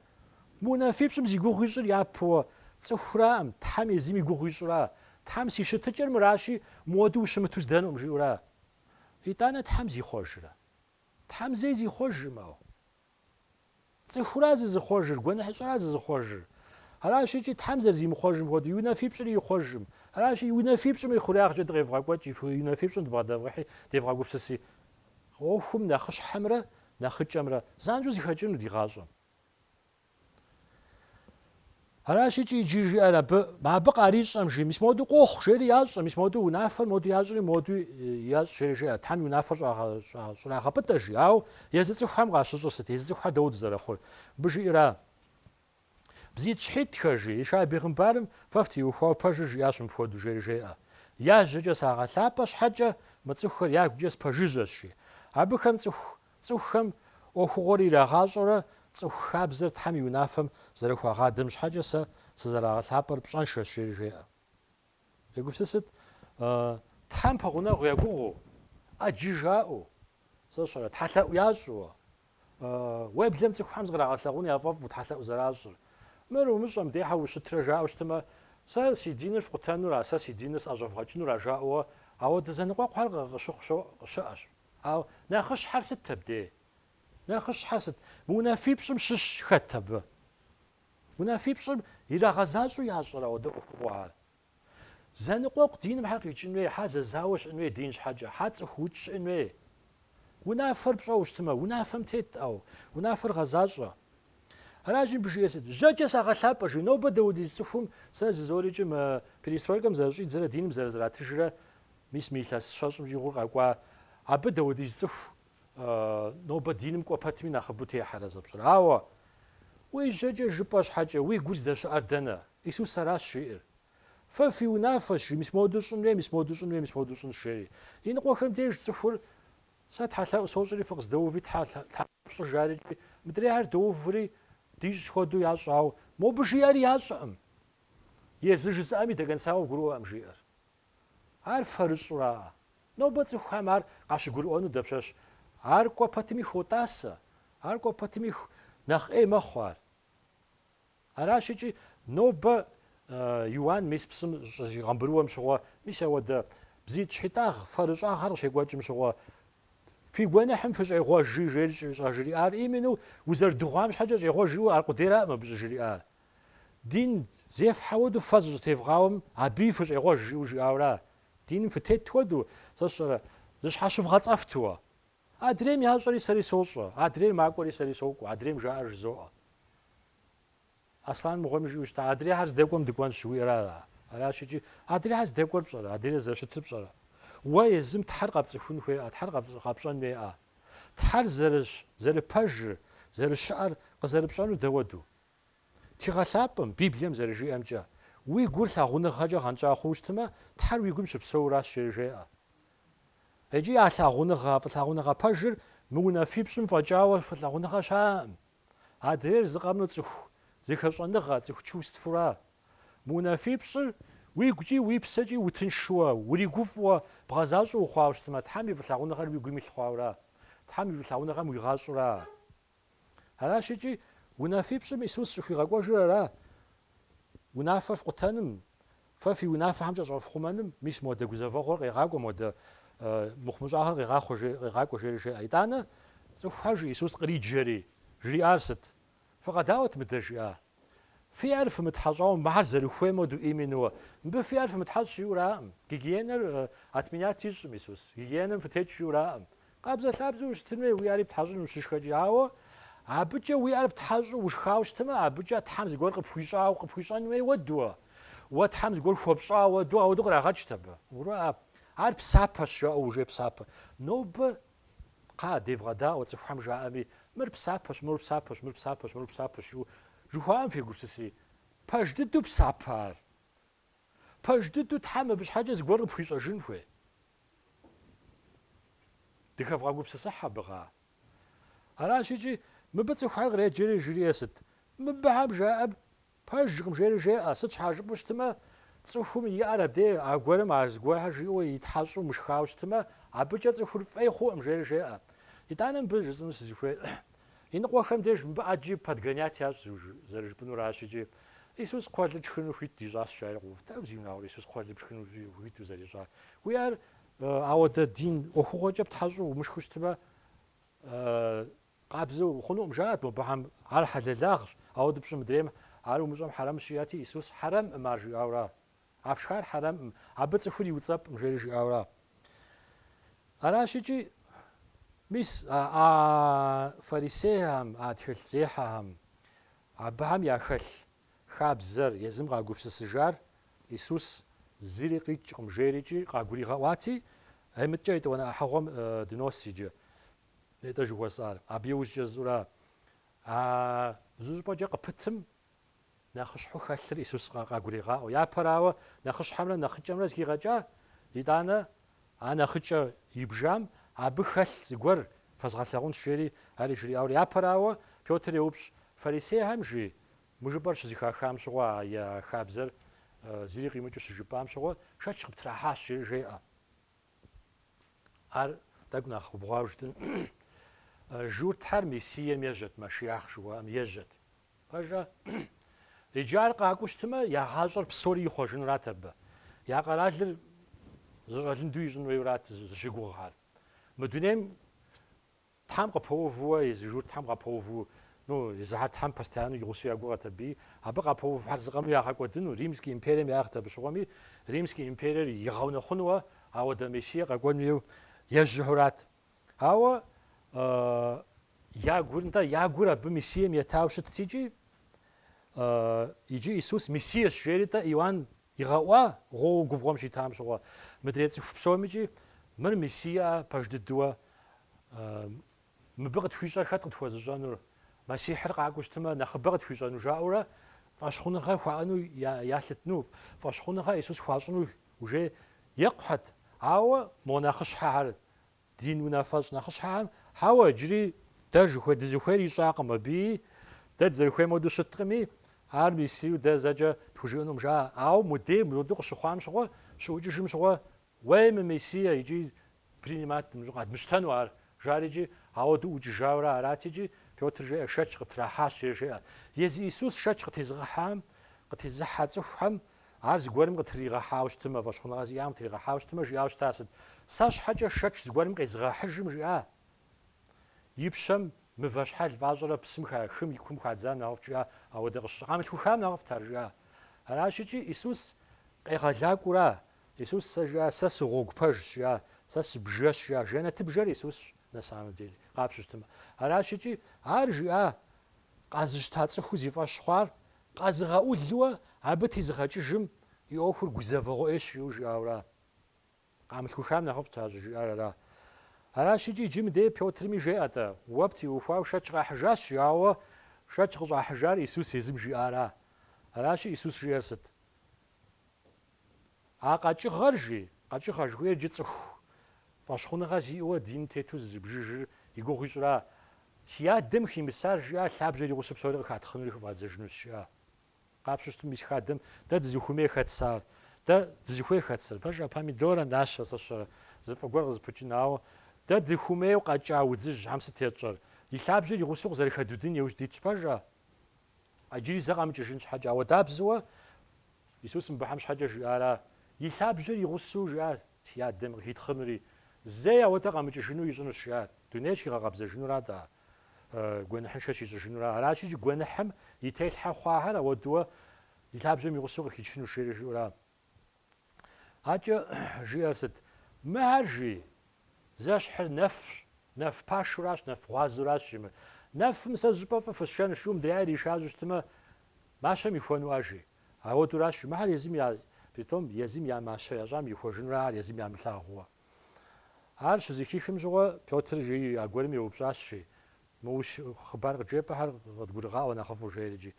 Мы унафипщӏым зи гугъу ищӏыр япэуэ цӏыхуракъым, Тхьэм езым и гугъу ищӏура? Тхьэм си щытыкӏэр мыращи, моду ущымыту здэнукъым жиӏэура? Итӏанэ Тхьэм зихъуэжрэ? Тхьэм зэи зихъуэжым, ауэ. Цӏыхура зызыхъуэжыр, гуэныхьыщӏэра зызыхъуэжыр? Аращ икӏи Тхьэм зэрызимыхъуэжым хуэдэу, и унафипщӏри ихъуэжым. Аращи, и унафипщӏым и хъуреягъкӏэ дыкъевгъэкӏуэкӏ, и унафипщӏым дыбгъэдэвгъэхьи, девгъэгупсыси. ӏуэхум нэхъыщхьэмрэ нэхъыкӏэмрэ занщӏэу зэхэкӏыну ди гъащӏэм. Аращ икӏи иджы жиӏэр абы, абы къарищӏэм жи, мис моду къохъу, жери ящӏэ, мис моду унафэр моду ящӏри, моду ящӏ, жери жиӏэ, Тхьэм и унафэр щӏрагъэпӏытӏэ, жи, ауэ езы цӏыхухэм къащыщӏыр сыт, езы цӏыхухэр дауэ дызэрыхъур? Мыбы жиӏэра, Бзитӏ щхьитӏхэ, жи, Ишай бегъымбарым фэ фтеухуауэ пэжыр жиӏащ мыпхуэду, жери жеӏэ, Я жьэкӏэ сагъэлъапӏэ щхьэкӏэ, мы цӏыхухэр я гукӏэ спэжыжьэщ, жи, абыхэм цӏыху Цӏыхухэм ӏуэхугъуэр ирагъащӏэрэ цӏыху хабзэр Тхьэм и унафэм зэрыхуагъадэм щхьэкӏэ сэ сызэрагъэлъапӏэр пщӏэншэщ, жери жеӏэ. Егупсысыт, Тхьэм пэгъунэгъу я гугъэу, ӏэджи жаӏэу, сэ сщӏэрэ, тхьэлъэӏу ящӏу, уеблэм цӏыхухэм зыкърагъэлъэгъуну яфӏэфӏу тхьэлъэӏу зэращӏыр. Мыр умыщӏэм дехьэ ущытрэ жаӏэу щытмэ, Сэ си диныр фкъутэнура, сэ си диныр сӏэщӏэвгъэкӏынура жаӏэуэ, ауэдэ зэныкъуэкъухьэр къыщыхъу щыӏэщ. Ауэ нэхъыщхьэр сыт абдей? Нэхъыщхьэр сыт? Мы унафипщӏым щыщ хэт абы? Унафипщӏым ирагъэзащӏэу ящӏэрэ ауэдэ ӏуэхугъуэ ар? Зэныкъуэкъу диным хьэ къикӏын хуей, хьэ зэзауэ щыӏэн хуей дин щхьэкӏэ, хьэ цӏыху укӏ щыӏэн хуей. Унафэр пщӏэу щытмэ, унафэм тет-тӏэ, унафэр гъэзащӏэ. Аращи, мыбы жиӏэ сыт? Жьэкӏэ сагъэлъапӏэ, жи, нобэ дэ уэдиз цӏыхум сэ жызоӏэри икӏи мы перестройкэм зэрыщӏидзэрэ диным зэрызэратыжрэ Мис мы илъэс щэщӏым щӏигъур къэкӏуа абы дэ уэдиз цӏыху нобэ диным кӏуэ пэтми нэхъыбэу техьэрэ зэпщӏыр. Ауэ, уи жьэкӏэ жыпӏэ щхьэкӏэ, уи гур здэщыӏэр дэнэ? Исус аращ жиӏэр. Фэ фи унафэщ, жи, мис моду щӏынуей, мис моду щӏынуей, мис моду щӏынщ, жери. Иныкъуэхэм деж цӏыхур, Сэ тхьэлъэӏу сощӏри, фыкъыздэуви, тхьэ, тхьэ, фщӏы, жари икӏи, мыдрейхьэр доуври, дищӏ хуэдэу ящӏ, ауэ мобы жиӏэри ящӏэӏым. Езы жызыӏэми нэгъэсауэ гурыӏуэӏым, жиӏэр. Ар фэрыщӏраӏэ? Нобэ цӏыхухэм ар къащыгурыӏуэну дапщэщ? Ар кӏуэ пэтми хотӏасэ, ар кӏуэ пэтми нэхъ ӏей мэхъу ар. Аращ икӏи нобэ Иуан мис псым щыщӏигъэмбырыуэм щыгъуэ, мис ауэдэ бзитӏ щхьитӏагъ фэрыщӏагъэр къыщекӏуэкӏым щыгъуэ, фи гуэныхьым фыщӏегъуэжи жери щӏыжриӏар именно узэрыдыгъуам щхьэкӏэ щӏегъуэж жиӏэу аркъудейраӏым абы щӏыжриӏар. Дин зефхьэ хуэдэу фэ зыщӏытевгъауэм абыи фыщӏегъуэж жиӏэу жиӏауэра? Диным фытет хуэдэу, сэ сщӏэрэ, зыщхьэщывгъэцӏэфтуэ. Адрейм ящӏэри сэри сощӏэ, адрейр макӏуэри сэри сокӏуэ, адрейм жаӏэр жызоӏэ. Аслъан мыгъуэми жиӏэу щытащ, Адрейхьэр здэкӏуэм дыкӏуэнщ, жиӏэра? Аращ икӏи, адрейхьэр здэкӏуэр пщӏэрэ, адрейр зэрыщытыр пщӏэрэ? Уэ езым Тхьэр къэпцӏыхун хуейӏэ, Тхьэр къэпщӏэн хуейӏэ? Тхьэр зэрыщ, зэрыпэжыр, зэрыщыӏэр къызэрыпщӏэнур дэ уэду? Тхыгъэ лъапӏэм, Библием зэрыжиӏэмкӏэ, уи гур лъагъуныгъэкӏэ гъэнщӏа хъууэ щытмэ, Тхьэр уи гум щыпсэуращ жери жеӏэ. Икӏи а лъагъуныгъэ, а фӏылъагъуныгъэ пэжыр мы унафипщӏым фӏэкӏауэ фӏылъагъуныгъэ щыӏэкъым. Адрейр зы къэмынэу цӏыху зэхэщӏэныгъэ, цӏыху чувствэра. Мы унафипщӏыр уи гукӏи уи псэкӏи утыншуэ, уригуфӏэу, бгъэзащӏэу ухъуауэ щытмэ, Тхьэм и фӏылъагъуныгъэр уи гум илъ хъуауэра? Тхьэм и фӏылъагъуныгъэм уигъащӏэура? Аращ икӏи унафипщӏым Исус щӏыхуигъэкӏуэжыр ара? Унафэр фкъутэным, фэ фи унафэхэмкӏэ щӏэфхъумэным, мис модэ гузэвэгъуэр къегъакӏуэ, модэ мыхъумыщӏагъэр къегъакӏуэ, жери жеӏэ. Итӏанэ цӏыхухэр жи Исус къриджэри, жриӏар сыт? Фыкъэдаӏуэт мыдэ жиӏа? Фи ӏэр фымытхьэщӏауэ, мыхьэр зэрыхуейм хуэдэу именнэ, мыбы фи ӏэр фымытхьэщӏ жиӏэураӏым. Гигиенэр отменять ищӏым Исус. Гигиенэм фытекӏ жиӏэураӏым. Къабзэлъабзэу ущытын хуей, уи ӏэри птхьэщӏын ущышхэкӏи. Ауэ абыкӏэ уи ӏэр птхьэщӏу ушхауэ щытмэ, абыкӏэ Тхьэм зыгуэр къыпхуищӏауэ, къыпхуищӏэн хуей хуэдэу, Уэ Тхьэм зыгуэр хуэпщӏауэ хуэдэу. Ауэдэу кърагъэкӏт абы. Уроӏэ, ар псапэщ, жаӏэу уже псапэ. Нобэ, кхъа, девгъэдаӏуэ, цӏыхухэм жаӏэми, мыр псапэщ, мыр псапэщ, мыр псапэщ, мыр псапэщ, жыхуаӏэм фегупсыси, пэж дыдэу псапэ ар. Пэж дыдэу Тхьэм абы щхьэкӏэ зыгуэр къыпхуищӏэжын хуей. Дыхэвгъэгупсысыхь абы гъа. Аращ икӏи, мыбы цӏыхухэр къреджэри жреӏэ сыт? Мыбыхэм жаӏэр пэжкъым жери жеӏэ, сыт щхьа жыпӏэу щытмэ, цӏыхум и ӏэр абдей аргуэрым а зыгуэрхэр жиӏэу итхьэщӏу мышхауэ щытмэ, абыкӏэ цӏыхур фӏей хъуӏым жери жеӏэ. Итӏанэ мыбы жысӏэну сызыхуейр, Иныкъуэхэм деж мыбы ӏэджи подгонять ящӏ зэрыжыпӏэнуращ икӏи Исус кхъуэлыр тшхыну хуит дищӏащ жаӏэри къыув. Дауэ зиунагъуэрэ Исус кхъуэлыр тшхыну хуиту зэрищӏар? Уи ӏэр ауэдэ дин ӏуэхугъуэкӏэ птхьэщӏу умышхыу щытмэ къабзэу ухъунуӏым жаӏэрт мобыхьэм, ар хьэлэлагъщ, ауэдэу пщӏым, мыдрейм ар умыщӏэм хьэрэмщ жиӏэти Исус хьэрэмӏым ар жиӏауэ ара? А фшхар хьэрэмӏым, абы цӏыхур иуцӏэпӏым, жери жиӏауэра. Аращ икӏи, мис, а а фарисейхэм, а тхылъзехьэхэм, абыхэм яхэлъ хабзэр, езым къагупсысыжар Исус зыри къикӏкъым, жери икӏи къагуригъэӏуати, Ей, мыдэкӏэ етӏуанэ ӏыхьыгъуэм дынос иджы, етӏэ жыхуэсӏар, абы иужькӏэ зыщӏыра? А зы щӏыпӏэкӏэ къыпытым Нэхъыщхьэу хэлъыр Исус къагурегъаӏуэ. Япэрауэ, нэхъыщхьэмрэ нэхъыкӏэмрэ зыхигъэкӏа? Итӏанэ, а нэхъыкӏэ ибжам, абы хэлъ зыгуэр фэзгъэлъагъунщ, жери ари жриӏауэ. Япэрауэ, Пётр еупщӏ, Фарисейхэм жи? Мы жыпӏэр щызыхахам щыгъуэ, я хабзэр зыри къимыкӏыу щыжыпӏам щыгъуэ, шэч къыптрахьащ, жери жеӏэ. Ар тӏэкӏу нэхъ убгъуауэ жытӏэнщ. Журтхьэр Мессием ежьэт, Машиах жыхуаӏэм ежьэт. Пэжа? Иджы ар къакӏуэу щытымэ, я гъащӏэр псори ихъуэжынурат абы. Я къэралыр зэщӏэлынду ищӏын хуейурат зыщыгугъхьэр. Мы дунейм Тхьэм къыпэувууэ езы журтхьэм къапэуву, ну, езыхьэр Тхьэм постоянно и гъусэу я гугъэт абыи, абы къапэувхьэр зыкъэму ягъэкӏуэдыну, Римский империем яӏыгът абы щыгъуэми, Римский империер игъэунэхъунууэ ауэдэ Мессие къэкӏуэн хуейуэ ежьэхьурат. Ауэ я гур, нтӏэ, я гур абы Мессием етауэ щытт икӏи, иджы Исус Мессиещ жери, нтӏэ, Иоанн игъэӏуа гъуоу губгъуэм щитам щыгъуэ, мыдрей цӏыху псомикӏи мыр Мессиера пэж дыдууэ, мыбы къытхуищӏэр хэт къытхуэзыщӏэнур, Мэссихьыр къакӏуэу щытымэ, нэхъыбэ къытхуищӏэну жаӏэурэ фӏэщхъуныгъэ хуаӏэну ялъытну, фӏэщхъуныгъэ Исус хуащӏыну Уже екъухьэт, ауэ мо нэхъыщхьэхэр, дин унафэщӏ нэхъыщхьэхэм, хьэуэ, иджыри дэ жыхуэ, дызыхуейр ищӏакъым абыи, дэ дызэрыхуейм хуэдэу щыткъыми, ар Мессиеу дэ зэкӏэ тхужыӏэнукъым, жаӏэ. Ауэ мудей мыбы къыщыхъуам щыгъуэ, щыӏукӏыжым щыгъуэ, уей мы Мессие икӏи Принимать мыщӏэ къэдмыщтэну ар, жари икӏи, ауэду ӏукӏыжауэрэ арати икӏи, Пётр жеӏэ, Шэч къыптрахьащ, жери жеӏэ. Езы Исус шэч къытезыгъэхьам, къытезыхьэ цӏыхухэм, Ар зыгуэрым къытрыригъэхьауэ щытымэ, фӏэщхъуныгъэ зиӏам къытригъэхьауэ щытымэ, жиӏауэ щытар сыт? Сэ щхьэкӏэ шэч зыгуэрым къезыгъэхьыжым жиӏа? И пщэм мывэ щхьэл фӏащӏэрэ псым ха хым и кум хадзам нэхъыфӏт жиӏа, ауэдэ къыщыщӏ къамылъхухам нэхъыфӏт ар жиӏа? Аращ икӏи Исус къегъэлакӏуэура, Исус сэ жиӏа, Сэ сыгъуэгу пэжщ, жиӏа, Сэ сыбжэщ, жиӏа, жэнэтыбжэр Исусщ на самом деле, къапщтэу щытмэ. Аращ икӏи Ар жиӏа къэзыщта цӏыхур зи фӏэщ хъуар къэзыгъэӏулуэ абы тезыгъэкӏыжым и ӏуэхур гузэвэгъуэ ӏейщ жиӏэу жиӏауэра? Къамылъхухам нэхъыфӏт ар щӏыжиӏар ара? Аращ икӏи иджы мыдей Пётрми жеӏэ-тӏэ, Уэ птеухуауэ шэч къахьыжащ, жиӏауэ шэч къыщӏахьыжар Исус езым жиӏара? Аращи Исус жиӏэр сыт? А къэкӏыгъэр, жи, къэкӏыгъэ жыхуиӏэр иджы цӏыху фӏэщхъуныгъэ зиӏэуэ дин тету зызыбжыжыр и гугъу ищӏра? Си адэм химысар жиӏа лъабжьэр и гъусэу псори къыхатхъынури хыфӏадзэжынущ, жиӏа. Къапщтэу щытым, мис хадэм дэ дызыхуэмей хэтсар? Дэ дызыхуей хэтсэр? Пэжа, помидорэ, нащэ, сэ сщӏэрэ, зы фӏы гуэр къызыпыкӏын, ауэ дэ дыхуэмейуэ къэкӏа удзыжьхьэм сыт етщӏэр? И лъабжьэр и гъусэу къызэрыхэдудын иужь дитщ, пэжа? Иджыри зэ къэмыкӏыжын щхьэкӏэ. Ауэдабзэуэ Исус мыбыхьэм щхьэкӏэ жиӏара? И лъабжьэр и гъусэу жиӏащ, Си Адэм къыхитхъынури, зэи ауэдэ къэмыкӏыжыну ищӏынущ, жиӏат. Дунейр щигъэкъэбзэжынура атӏэ? Гуэныхьыншэ щищӏыжынура? Аращ иджы гуэныхьым и телъхьэ хъуахэр ауэдууэ и лъабжьэм и гъусэу къыхичынущ, жери жиӏэура? Акӏэ жиӏэр сыт? Мыхэр жи, зэщхьыр нэфщ, нэф пашуращ, нэф гъуазуращ жи мыр. Нэфым сэ щӏыпӏэ фӏы фысшэн жиӏу мыдрейр ишажьу щытымэ, мащэм ихуэну ар жи. Ауэдуращ жи мыхэр езым я, притом езым я мащэ ящӏам ихуэжынура ар езым ямылъагъууэ. Ар щызыхихым щыгъуэ Пётр жи а гуэрым еупщӏащ жи, Мы ущие хъыбар къыджепӏэхэр къыдгурыгъаӏуэ нэхъыфӏу жейр икӏи.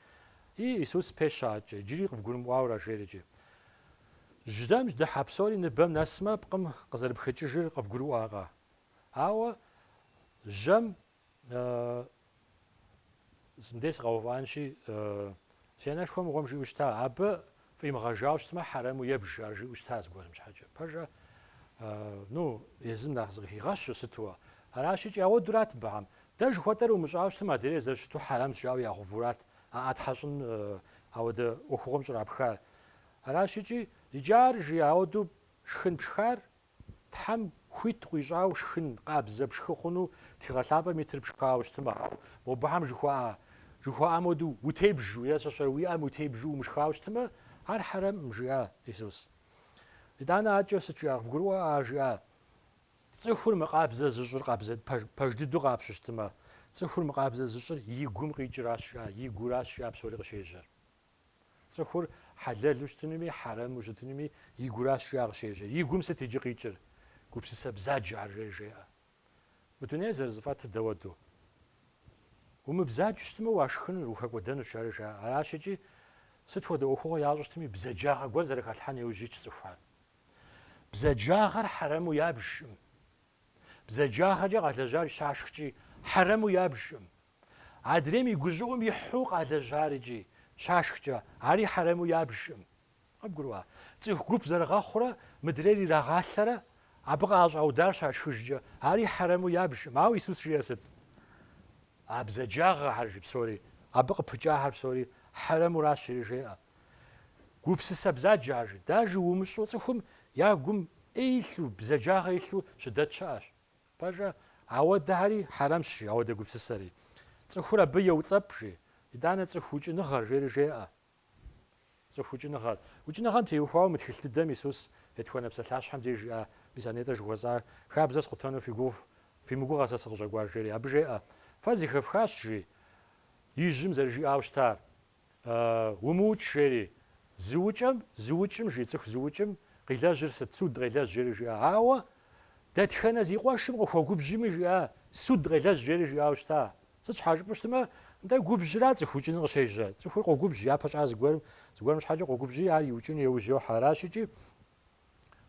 И, Исус пещэ адэкӏэ, иджыри къывгурымыӏуауэ ара жейр икӏи. Жьэм дыхьэ псори ныбэм нэсмэ, пкъым къызэрыпхэкӏыжыр къывгурыӏуакъэ? Ауэ жьэм, сэ мыдей сыкъэувыӏэнщи, си анэшхуэ мыгъуэм жиӏэу щыта, абы Фӏимыгъэжауэ щытмэ, хьэрэму ебж, ар жиӏэу щыта зыгуэрым щхьэкӏэ. Пэжа, ну, езым нэхъ зыкъыхигъэщу сытуэ? Аращ икӏи ауэдурат мыбыхэм. Дэ жыхуэтӏэр умыщӏауэ щытым, адрейр зэрыщыту хьэрэмщ жаӏауэ ягъэувурат а ӏэ тхьэщӏын ауэдэ ӏуэхугъуэм щӏрапхар. Аращ икӏи, иджы ар жи ауэду шхын пшхар Тхьэм хуит къуищӏауэ шхын, къабзэ, пшхы хъуну Тхыгъэ Лъапӏэм итыр пшхауэ щытымэ, мобыхэм жыхуаӏэ, жыхуаӏам хуэдэу, утебжу, е сэ сщӏэрэ, уи ӏэм утебжу умышхауэ щытымэ, ар хьэрэмкъым, жиӏа Исус. Итӏанэ акӏэ сыт жиӏар? Къывгурыӏуэ, ар жиӏа, цӏыхур мыкъабзэ зыщӏыр къабзэ пэж дыдэу къапщу щытымэ, цӏыхур мыкъабзэ зыщӏыр и гум къикӏыращ, жиӏа, и гуращ, жиӏа псори къыщежьэр. Цӏыхур хьэлэлу щытынуми, хьэрэму щытынуми и гуращ жиӏа къыщежьэр. И гум сыт иджы къикӏыр? Гупсысэ бзаджэ ар жеӏэ. Мы дунейр зэрызыфӏэтыр дауэду? Умыбзаджэу щытмэ, уашхынур, ухэкӏуэдэнущ, ар жаӏэ. Аращ икӏи, сыт хуэдэ ӏуэхугъуэ ящӏу щытми, бзаджагъэ гуэр зэрыхалъхьэн иужь итщ цӏыхухэр. Бзаджагъэр хьэрэму ябжкъым. Бзаджагъэкӏэ къалэжьар щашхкӏи, хьэрэму ябжкъым. Адрейм и гущӏыӏум ихьу къалэжьар икӏи, щашхкӏэ, ари хьэрэму ябжкъым. Къыбгурыӏуа? Цӏыху гуп зэрыгъэхъурэ мыдрейр ирагъалъэрэ, абы къыщӏаудар щашхыжкӏэ, ари хьэрэму ябжкъым. Ауэ Исус жиӏэр сыт? А бзаджагъэхэр жи псори, абы къыпыкӏахэр псори хьэрэмуращ, жери жеӏэ. Гупсысэ бзаджэ ар жи. Даже умыщӏу цӏыхум я гум ӏей илъу, бзаджагъэ илъу щыдэт щыӏэщ. Пэжа? Ауэдэхэри хьэрэмщ жи, ауэдэ гупсысэри. Цӏыхур абы еуцӏэпӏ жи. Итӏанэ цӏыху укӏыныгъэр жери жеӏэ. Цӏыху укӏыныгъэр. Укӏыныгъэм теухуауэ мы тхылъ дыдэм Исус етхуанэ псалъащхьэм деж жиӏа мис а нетӏэ жыхуэсӏар, Хабзэ скъутэну фи мыгугъэ сэ сыкъыщӏэкӏуар жери. Абы жеӏэ, Фэ зыхэфхащ жи. Ижьым зэрыжиӏауэ щытар. Умыукӏ, жери, зыукӏэм, зыукӏым, жи цӏыху зыукӏым, къилэжьыр сыт, суд къелэжь, жери жиӏа. Ауэ дэтхэнэ зи къуэшым къыхуэгубжьми, жиӏа, суд къелэжь, жери жиӏауэ щыта. Сыт щхьэ жыпӏэу щытмэ, нтӏэ, губжьра цӏыху укӏыну къыщежьэ. Цӏыхур къогубжь, япэ щӏар зыгуэрым, зыгуэрым щхьэкӏэ къогубжьи, ар иукӏыну еужь йохьэ. Аращ икӏи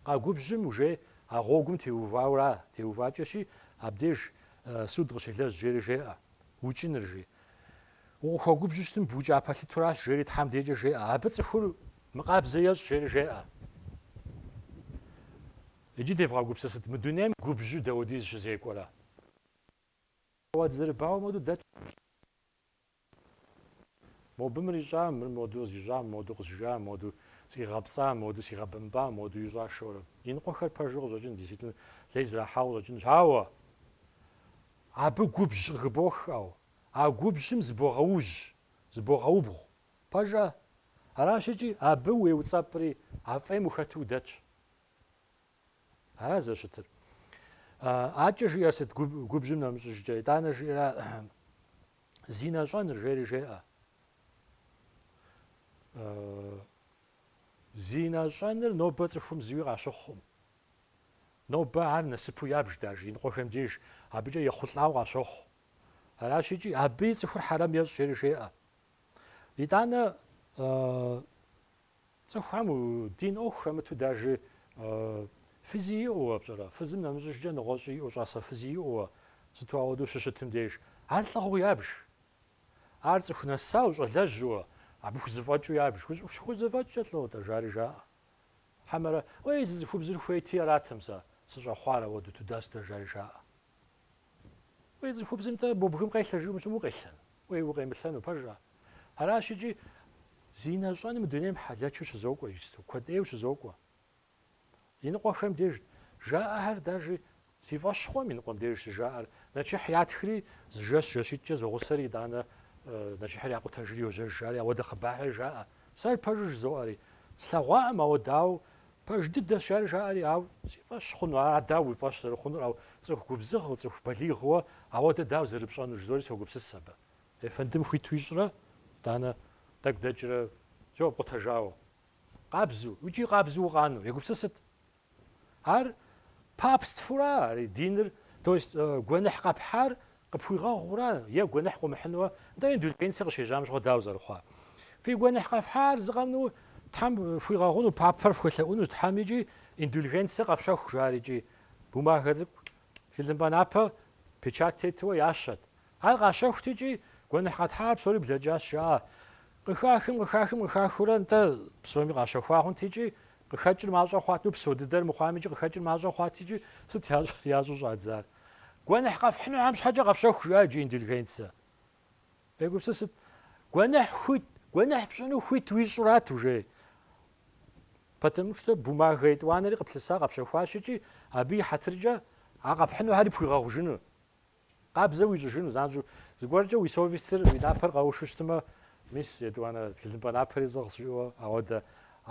Къагубжьым уже а гъуэгум теувауэра, теувакӏэщи, абдеж суд къыщелэжь, жери жеӏэ, укӏыныр, жи. Укъыхуэгубжьу щытым букӏа пэлъытуращ, жери Тхьэм декӏэ жеӏэ, абы цӏыхур мыкъабзэ ещӏ, жери жеӏэ. Иджы девгъэгупсысыт, мы дунейм губжьу дауэдиз щызекӏуэрэ? Ауэ дызэрыбауэм хуэдэу дэтщ губжьыр. Мобы мыр ищӏа, мыр моду къызищӏа, моду къызжа, моду сигъэпцӏа, моду сигъэбэмпӏа, моду ищӏа жорэ. Иныкъуэхэр пэжу къыщӏэкӏын, действительно, лей зрахьауэ къыщӏэкӏынщ. Ауэ абы губжь къыхыбох, ау, а губжьым зыбогъэужь, зыбогъэубгъу. Пэжа? Аращ икӏи абы уеуцӏэпӏри, а фӏейм ухэту удэтщ. Ара зэщытыр? Акӏэ жиӏэр сыт губжьым нэмыщӏыжкӏэ? Итӏанэ жиӏэра зинэ щӏэныр жери жеӏэ. Зинэ щӏэныр нобэ цӏыхум зыуи къащыхъукъым. Нобэ ар насыпу ябж даж иныкъуэхэм деж, абыкӏэ ехъулӏауэ къащохъу. Аращ икӏи абыи цӏыхур хьэрэм ещӏ жери жеӏэ. Итӏанэ Цӏыхухэм дин ӏуэху хэмыту дажи фызи иӏэуэ пщӏэрэ? Фызым нэмыщӏыжкӏэ нэгъуэщӏи иӏэу щӏасэ фызи иӏэуэ сыту ауэдэу щыщытым деж ар лӏыгъэу ябж. Ар цӏыху нэсау, щӏалэжьуэ, абы хузэфӏэкӏыу ябж. Хузэфӏэкӏкӏэ лӏо-тӏэ? жари жаӏэ. Хьэмэрэ, уей, зы цӏыхубзыр хуейти аратэм сэ сыщӏэхъуар ауэду туда-сюда, жари жаӏэ. Уей, цӏыхубзым-тӏэ бгым къелъэ жиӏэм укъелъэн, уей, укъемылъэну пэжа? Аращ икӏи зинэ щӏэн мы дунейм хьэлэчу щызокӏуэ иджысту, куэд ӏейуэ щызокӏуэ. Иныкъуэхэм дежт жаӏэхэр, дажи си фӏэщ хъуэм иныкъуэм деж щыжаӏэр, нэчыхь ятхри, зы жэщ жэщитӏкӏэ зогъусэри, итӏанэ нэчыхьыр якъутэжри йожьэж, жари ауэдэ хъыбархэр жаӏэ. Сэ пэжу жызоӏэри, слъэгъуакъым, ауэ дауэ, пэж дыдэщ, жари жаӏэри, ау си фӏэщ хъуну, ар дауэ уи фӏэщ зэрыхъунур, ау цӏыху губзыгъэу, цӏыху балигъуэ ауэдэ дауэ зэрыпщӏэнур жызори согупсыс абы. Ефэндым хуиту ищӏрэ, итӏанэ? Тӏэкӏу дэкӏрэ, уже пкъутэжауэ. Къабзу, икӏи къабзу укъану, егупсысыт. Ар папствора, ари диныр, то есть гуэныхь къэпхьар къыпхуигъэгъура, е гуэныхь къыумыхьынуэ, нтӏэ индульгенцэ къыщежьам щыгъуэ дауэ зэрыхъуар? Фи гуэныхь къэфхьар зы къэмынэу Тхьэм фхуигъэгъуну, папэр фхуелъэӏуну Тхьэм икӏи индульгенцэ къэфщэху, жари икӏи бумагэ цӏыкӏу, тхылымпӏэ напэ печать тетуэ ящэт, Ар къащэхут икӏи гуэныхь къэтхьар псори блэкӏащ, жаӏэ. Къыхахым, къыхахым, къыхахыурэ нтӏэ псоми къащэхуа хъунт икӏи къыхэкӏыр мащӏэ хъуат, ну, псо дыдэр мыхъуам икӏи къыхэкӏыр мащӏэ хъуат икӏи сыт ящӏ, ящӏу щӏадзар. Гуэныхь къэфхьынухьэм щхьэкӏэ къэфщэху, жиӏа иджы индульгенцэ. Егупсысыт. Гуэныхь хуит, гуэныхь пщӏыну хуит уищӏрат уже. Потому что бумага етӏуанэри къыплъыса къэпщэхуащ икӏи абы и хьэтыркӏэ а къэпхьынухьэри пхуигъэгъужыну. Къабзэу уищӏыжыну занщӏэу, зыгуэркӏэ уи совестыр, уи напэр къэушу щытмэ, мис, етӏуанэ, тхылъымпӏэ напэри сӏыгъщ, жиӏэу ауэдэ,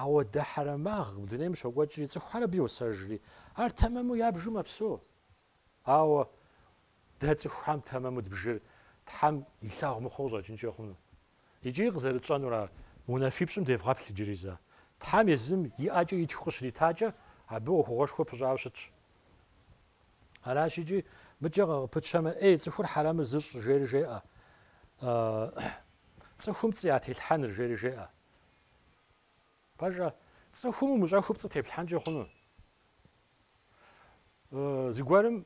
ауэдэ хьэрэмагъ дунейм щокӏуэкӏри, цӏыхухэр абы йосэжри, ар тэмэму ябжу мэпсэу. Ауэ дэ цӏыхухэм тэмэму дбжыр Тхьэм илъагъу мыхъуу къыщӏэкӏынкӏэ хъуну. Икӏи къызэрытщӏэнур ар, унафипщӏым девгъэплъ иджыри зэ. Тхьэм езым и ӏэкӏэ итхыу къыщритакӏэ, абы ӏуэхугъуэшхуэ пыщӏауэ щытщ. Аращ икӏи, мыкӏэ къы- къыпытщэмэ, эй, цӏыхур хьэрэмыр зыщӏыр, жери жеӏэ. Цӏыхум пцӏы ятелъхьэныр, жери жеӏэ. Пэжа, цӏыхум умыщӏэхыу пцӏы теплъхьэнкӏэ хъуну? Зыгуэрым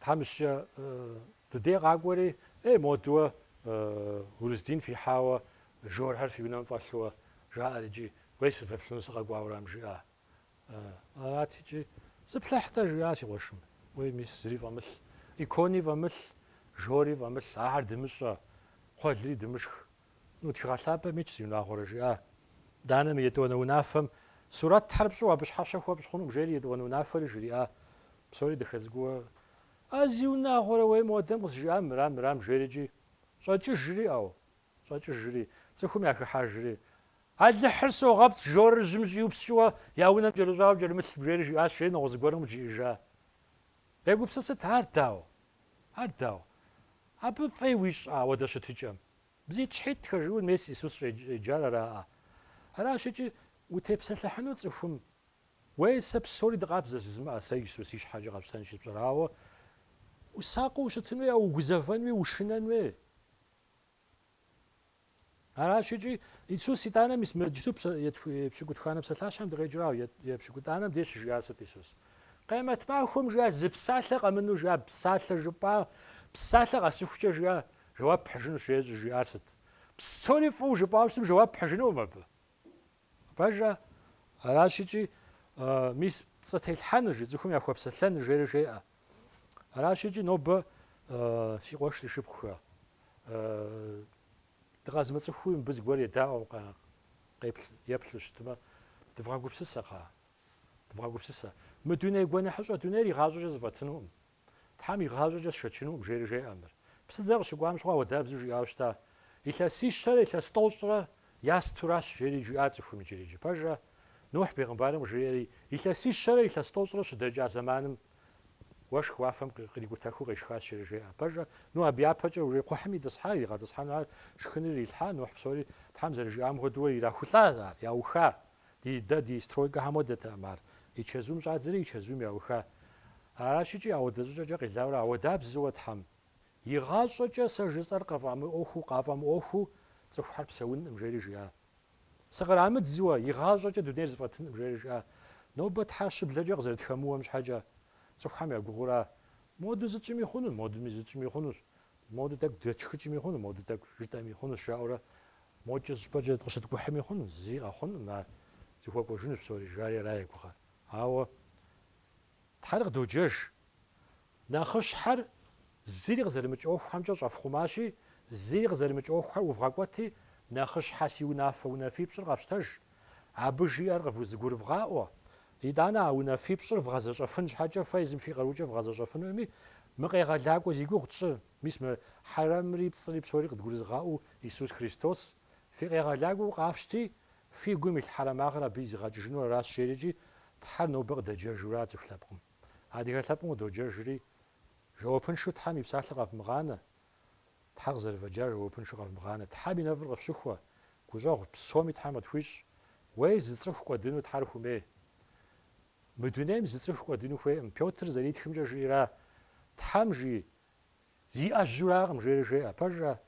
тхьэмыщкӏэ ди дей къакӏуэри, эй, модуэ урыс дин фихьауэ, жорхэр фи унэм фӏэлъууэ, жаӏэри икӏи, уей, сыфеплъыну сыкъэкӏуауэ арам жиӏа? Арати икӏи, зыплъыхь-тӏэ, жиӏа си къуэшым. Уей, мис, зыри фӏэмылъ. Икони фӏэмылъ, жори фӏэмылъ, ахэр дымыщӏэ, кхъуэлри дымышх. Ну, тхыгъэ лъапӏэм итщ, зиунагъуэрэ, жиӏа. Данэ, мы етӏуанэ унафэм сурэт тхьэр пщӏу абы щхьэщэ хуэпщӏ хъунукъым, жери етӏуанэ унафэри жриӏа. Псори дахэ цӏыкӏуу. А зиунагъуэрэ уей модэм къызжиӏам мырам, мырам, жери икӏи. Щӏэкӏыжри, ӏэу, щӏэкӏыжри, цӏыхум яхыхьэжри, Алыхьыр согъэпцӏ, жорыр жьым щӏиупскӏыуэ, я унэм кӏэрыщӏауэ кӏэрымылъым, жери жиӏащ, жери нэгъуэщӏ зыгуэрым къыджиӏэжа. Егупсысыт, ар дауэ? Ар дауэ? Абы фӏей уищӏ ауэдэ щытыкӏэм? Бзитӏщхьитӏхэ жиӏэу мес Исус щӏеджар араӏэ? Аращ икӏи, утепсэлъыхьыну цӏыхум, Уей, сэ псори дыкъабзэ жызмыӏэ, сэ езы си щхьэкӏэ къэпщтэнщи сщӏэрауэ, усакъыу ущытын уей, ауэ угузэвэн уей, ушынэн уей. Аращ икӏи, Исус итӏанэ мис мы иджысту пщыкӏутханэ псалъащхьэм дыкъеджэрауэ, е пщыкӏутӏанэм деж щыжиӏар сыт Исус? Къемэт махуэм жиӏа зы псалъэ къэмыну жиӏа псалъэ жыпӏа, псалъэ къэсыхукӏэ жиӏа жэуап пхьыжыну щытщ жиӏар сыт? Псори фӏыуэ жыпӏауэ щытым жэуап пхьыжынукъым абы. Пэжа, аращ икӏи, мис пцӏы телъхьэныр, жи, цӏыхум яхуэпсэлъэныр, жери жеӏэ. Аращ икӏи нобэ си къуэш си шыпхъухэ. Дыкъэзмыцӏыхуу мыбы зыгуэр едаӏуэм къеплъ, еплъу щытмэ, дывгъэгупсысэ, кхъыӏэ, дывгъэгупсысэ. Мы дуней гуэныхьыщӏэ дунейр игъащӏэкӏэ зэфӏэтынукъым. Тхьэм игъащӏэкӏэ сшэчынукъым, жери жеӏэ мыр. Псыдзэр къыщыкӏуам щыгъуэ ауэдабзэу жиӏауэ щыта, Илъэсищэрэ илъэс тӏощӏрэ ястуращ, жери жиӏа цӏыхум иджыри. Иджы пэжӏэ, Нухь бегъымбарым къыжриӏэри, илъэсищэрэ илъэс тӏощӏрэ щыдэкӏа зэманым уэшх уафэм кърикӏутэхыу къешхащ, жери жеӏэ. Пэжӏэ, абы япэкӏэ уже кхъухьым итӏысхьа, иригъэтӏысхьэну ар шхыныр ирилъхьа, Нухь псори Тхьэм зэрыжиӏам хуэдэуэ ирахулӏа ар, яуха. Ди дэ, ди стройкэхэм хуэдэтэкъым ар. И чэзум щӏадзэри, и чэзум яуха. Аращ икӏи ауэдэ щӏыкӏэкӏэ къилауэрэ ауэдабзэуэ Тхьэм игъащӏэкӏэ сэ жысӏэр къафӏэмыӏуэхуу цӏыхухэр псэункъым, жери жиӏа. Сыкърамыдзуэ игъащӏэкӏэ дунейр зэфӏэтынкъым, жери жиӏа. Нобэ Тхьэр щыблэкӏэ къызэрытхэмыуэм щхьэкӏэ, цӏыхухэм я гугъура? Моду зытщӏыми хъуну? Модуми зытщӏыми хъунущ. Моду тӏэкӏу дэтхыкӏми хъуну? Моду тӏэкӏу жытӏэми хъунущ, жаӏэурэ Мокӏэ зыщӏыпӏэкӏэ къыщыткӏухьми хъунущ, зи къэхъунукъым ар, зыхуэкӏуэжынущ псори, жари ара я гугъэр. Ауэ Тхьэр къыдоджэж. Нэхъыщхьэр зыри къызэрымыкӏ ӏуэхухэмкӏэ щӏэфхъумащи, зыри къызэрымыкӏ ӏуэхухэр ӏувгъэкӏуэти, нэхъыщхьэ си унафэ унафипщӏыр къэфщтэж. Абы жиӏэр къывузыгурывгъаӏуэ. Итӏанэ а унафипщӏыр вгъэзэщӏэфын щхьэкӏэ фэ езым фи къарукӏэ вгъэзэщӏэфынукъыми, мы къегъэлакӏуэ зи гугъу тщӏыр, Мис мы хьэрэмри пцӏыри псори къыдгурызыгъаӏуэу Исус Христос фи къегъэлакӏуэу къафщти, фи гум илъ хьэрэмагъыр абы изыгъэкӏыжыну аращ жери икӏи Тхьэр нобэ къыдэджэжура цӏыху лъэпкъым. Адыгэ лъэпкъым къыдоджэжри, жэуапыншэу Тхьэм и псалъэр къэвмыгъанэ, Тхьэр къызэрывэджар жэуапыншэу къэвмыгъанэ, Тхьэм и нэфӏыр къыфщыхуэ, гущӏэгъу псоми Тхьэм къытхуищӏ, уей зы цӏыху кӏуэдыну Тхьэр хумей. Мы дунейм зы цӏыху кӏуэдыну хуейкъым, Пётр зэритхымкӏэ жиӏэра, Тхьэм жи, зиӏэжьуракъым, жери жеӏэ. Пэжӏэ,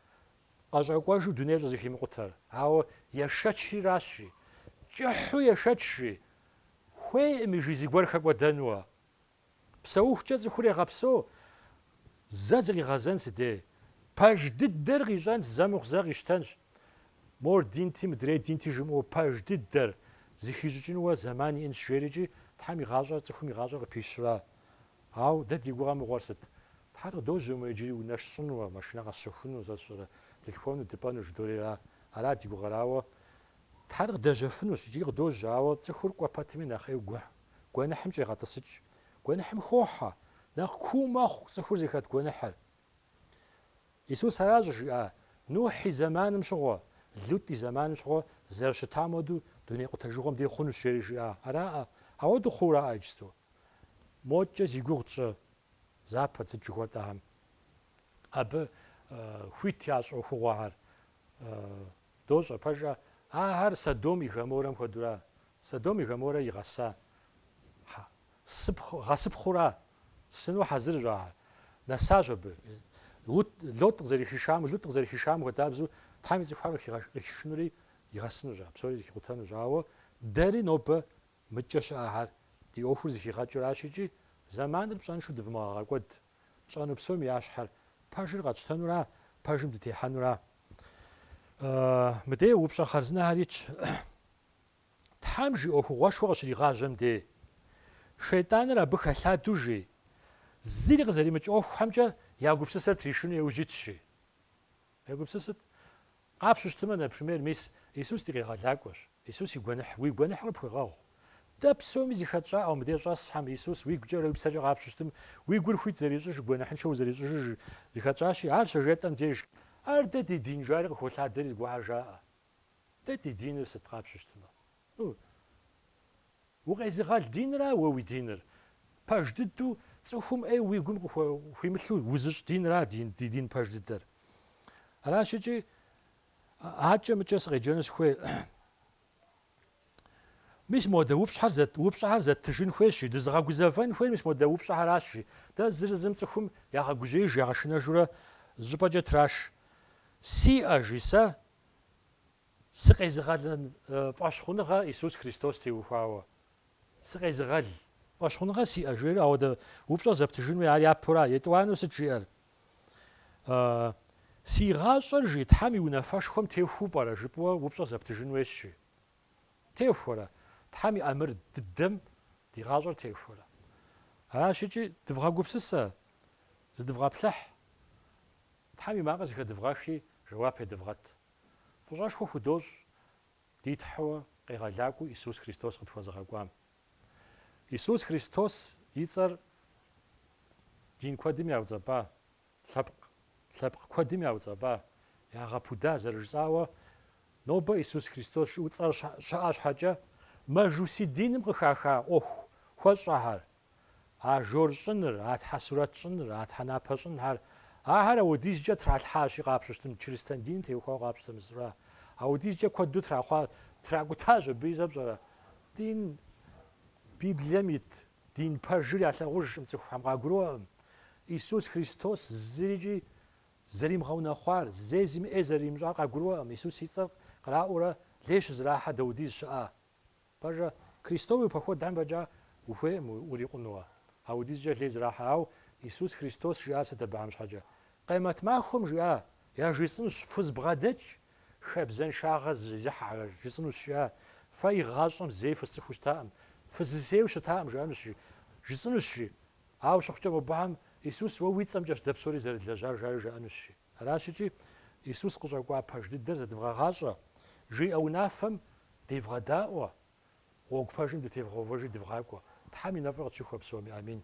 къэщӏэкӏуэжу дунейр щӏызэхимыкъутэр? Ауэ ешэчри аращ, жи. Кӏыхьу ешэч, жи. Хуейкъыми, жи, зыгуэр хэкӏуэдэнуэ. Псэухукӏэ цӏыхур егъэпсэу, зэ зыкъигъэзэн сыдей. Пэж дыдэр къищӏэнщ, зэ мыхъу зэ къищтэнщ. Мор динти, мыдрей динти жымыӏэу пэж дыдэр зыхищӏыкӏынуэ зэман иӏэнщ жери икӏи Тхьэм и гъащӏэр цӏыхум и гъащӏэр къыпищра? Ауэ дэ ди гугъэ мыгъуэр сыт? Тхьэр къыдожьэ мыр иджыри унэ сщӏынуэ, машинэ къэсщэхуну, сэ сщӏэрэ, дылъхуэну, дыпӏэну, жыдоӏэри ара? Ара ди гугъэрауэ? Тхьэр къыдэжьэфынущ, иджыри къыдожьэ, ауэ цӏыхур кӏуэ пэтми нэхъ ӏейу гугъ, гуэныхьым щӏегъэтӏысыкӏ. Гуэныхьым хохьэ. Нэхъ куу мэхъу цӏыхур зыхэт гуэныхьыр. Исус аращ къыжиӏа Нухь и зэманым щыгъуэ, Лут и зэманым щыгъуэ зэрыщытам хуэдэу дуней къутэжыгъуэм дей хъунущ жери жиӏа араӏэ, ауэду хъуураӏэ иджысту? Мокӏэ зи гугъу тщӏы Запад сыт жыхуэтӏэхэм. Абы хуит ящӏ ӏуэхугъуэхэр дощӏэ, пэжӏэ, ахэр Содом и Гоморрэм хуэдэура? Содом и Гоморрэ игъэса гъэсыпхъура? Сыну хьэзырщ ахэр. Нэсащ абы. Лут, Лот къызэрыхишам, Лут къызэрыхишам хуэдабзэу Тхьэм и цӏыхухэр къыхигъэш, къыхишынури игъэсынущ ар, псори зыхикъутэнущ. Ауэ дэри нобэ мыдкӏэ щыӏэхэр ди ӏуэхур зыхигъэкӏыращ икӏи зэманыр пщӏэншэу дывмыгъэгъэкӏуэд. Тщӏэну псоми я щхьэр пэжыр къэтщтэнура, пэжым дытехьэнура? Мыдеу упщӏэ хъарзынэхэр итщ. Тхьэм жи ӏуэхугъуэшхуэ къыщригъажьэм де, Шейтӏаныр абы хэлъадэу жи, зыри къызэримыкӏ ӏуэхухэмкӏэ я гупсысэр тришыну иужь итщ жи. Егупсысыт. Къапщу щытымэ, например, мис Исус ди Къегъэлакӏуэщ. Исус и гуэныхь, уи гуэныхьыр къыпхуегъэгъу. Дэ псоми зыхэтщӏауэ мыбдеж щӏэсхэм, Исус уи гукӏэрэ уи псэкӏэ къапщу щытым, уи гур хуит зэрищӏыж, гуэныхьыншэу узэрищӏыжыж, зыхэтщӏащи, ар щыжетӏэм деж, ар дэ ди дин жари къыхолъадэри зыгуэрхэр жаӏэ. Дэ ди диныр сыт къапщу щытмэ? Укъезыгъэл динра уэ уи диныр? Пэж дыдэу цӏыхум ӏей уи гум къыхуимылъу узыщӏ динра ди дин пэж дыдэр. Аращ икӏи акӏэ-мыкӏэ сыкъеджэну сыхуей. Мис модэ упщӏэр, упщӏэхэр зэттыжын хуейщ, жи, дызыгъэгузэвэн хуейр мис модэ упщӏэхэращ, жи. Дэ зыр зым цӏыхум ягъэгужьеиж, ягъэшынэжурэ зыщӏыпӏэкӏэ траш. Сиӏэ, жи, сэ Сыкъезыгъэлын фӏэщхъуныгъэ Исус Христос теухуауэ, сыкъезыгъэл фӏэщхъуныгъэ сиӏэ, жери ауэдэ упщӏэ зэптыжын хуей, ар япэура. Етӏуанэу сыт жиӏэр? Си гъащӏэр, жи, Тхьэм и унафэшхуэм техуу пӏэрэ? жыпӏэу уэ упщӏэ зэптыжын хуейщ, жи. Техуэрэ? Тхьэм и ӏэмыр дыдэм ди гъащӏэр техуэрэ? Аращ икӏи, дывгъэгупсысэ, зыдывгъэплъыхь. Тхьэм и макъыр зыхэдывгъэхри, жэуап едывгъэт. Фӏыщӏэшхуэ худощӏ ди Тхьэуэ Къегъэлакӏуэу Исус Христос къытхуэзыгъэкӏуам. Исус Христос и цӏэр дин куэдым яуцӏэпӏа, лъэпкъ куэдым яуцӏэпӏа, ягъэпуда зэрыжысӏауэ, нобэ Исус Христос жыӏэу цӏэр щыӏэ щхьэкӏэ, мэжуси диным къыхаха ӏуэху хуэщӏахэр, а жор щӏыныр, а тхьэсурэт щӏыныр, а тхьэнапэ щӏынхэр, ахэр ауэдизкӏэ тралъхьащи, къапщу щытым, чырыстэн дин теухуауэ къапщтэмэ зыщӏа, ауэдизкӏэ куэду трахъуа, тракӏутащ абы и зэ пщӏэрэ, дин, Библием ит дин пэжыр ялъагъужкъым цӏыхухэм, къагурыӏуэкъым, Исус Христос зырикӏи зэримыгъэунэхъуар, зэи зыми ӏей зэрыримыщӏар къагурыӏуэкъым, Исус и цӏэр къраӏуурэ лей щызэрахьэ даудиз щыӏа? Пэжа, Крестовый походхэм фӏэкӏа ухуейӏым урикъунууэ, апхуэдизкӏэ лей зэрахьэ. Ауэ Иисус Христос жиӏар сыт абыхьэм щхьэкӏэ? Къемэт махуэм жиӏа, яжысӏэнущ, фызбгъэдэкӏ, хабзэншагъэ зезыхьэхэр, жысӏэнущ, жиӏа, фэ игъащӏэм зэи фысцӏыхуу щытаӏым, фызысейуэ щытаӏым, жаӏэнущ, жи, жысӏэнущ, жи. Ауэ щыхъукӏэ, мобыхьэм Иисус уэ уи цӏэмкӏэщ дэ псори зэрылэжьар, жари жаӏэнущ, жи. Аращ икӏи, Иисус къыщӏэкӏуа пэж дыдэр зэдывгъэгъащӏэ, жиӏэ унафэм девгъэдаӏуэ, гъуэгу пэжым дытевгъэувэжи дывгъакӏуэ. Тхьэм и нэфӏыр къытщыхуэ псоми. Амин.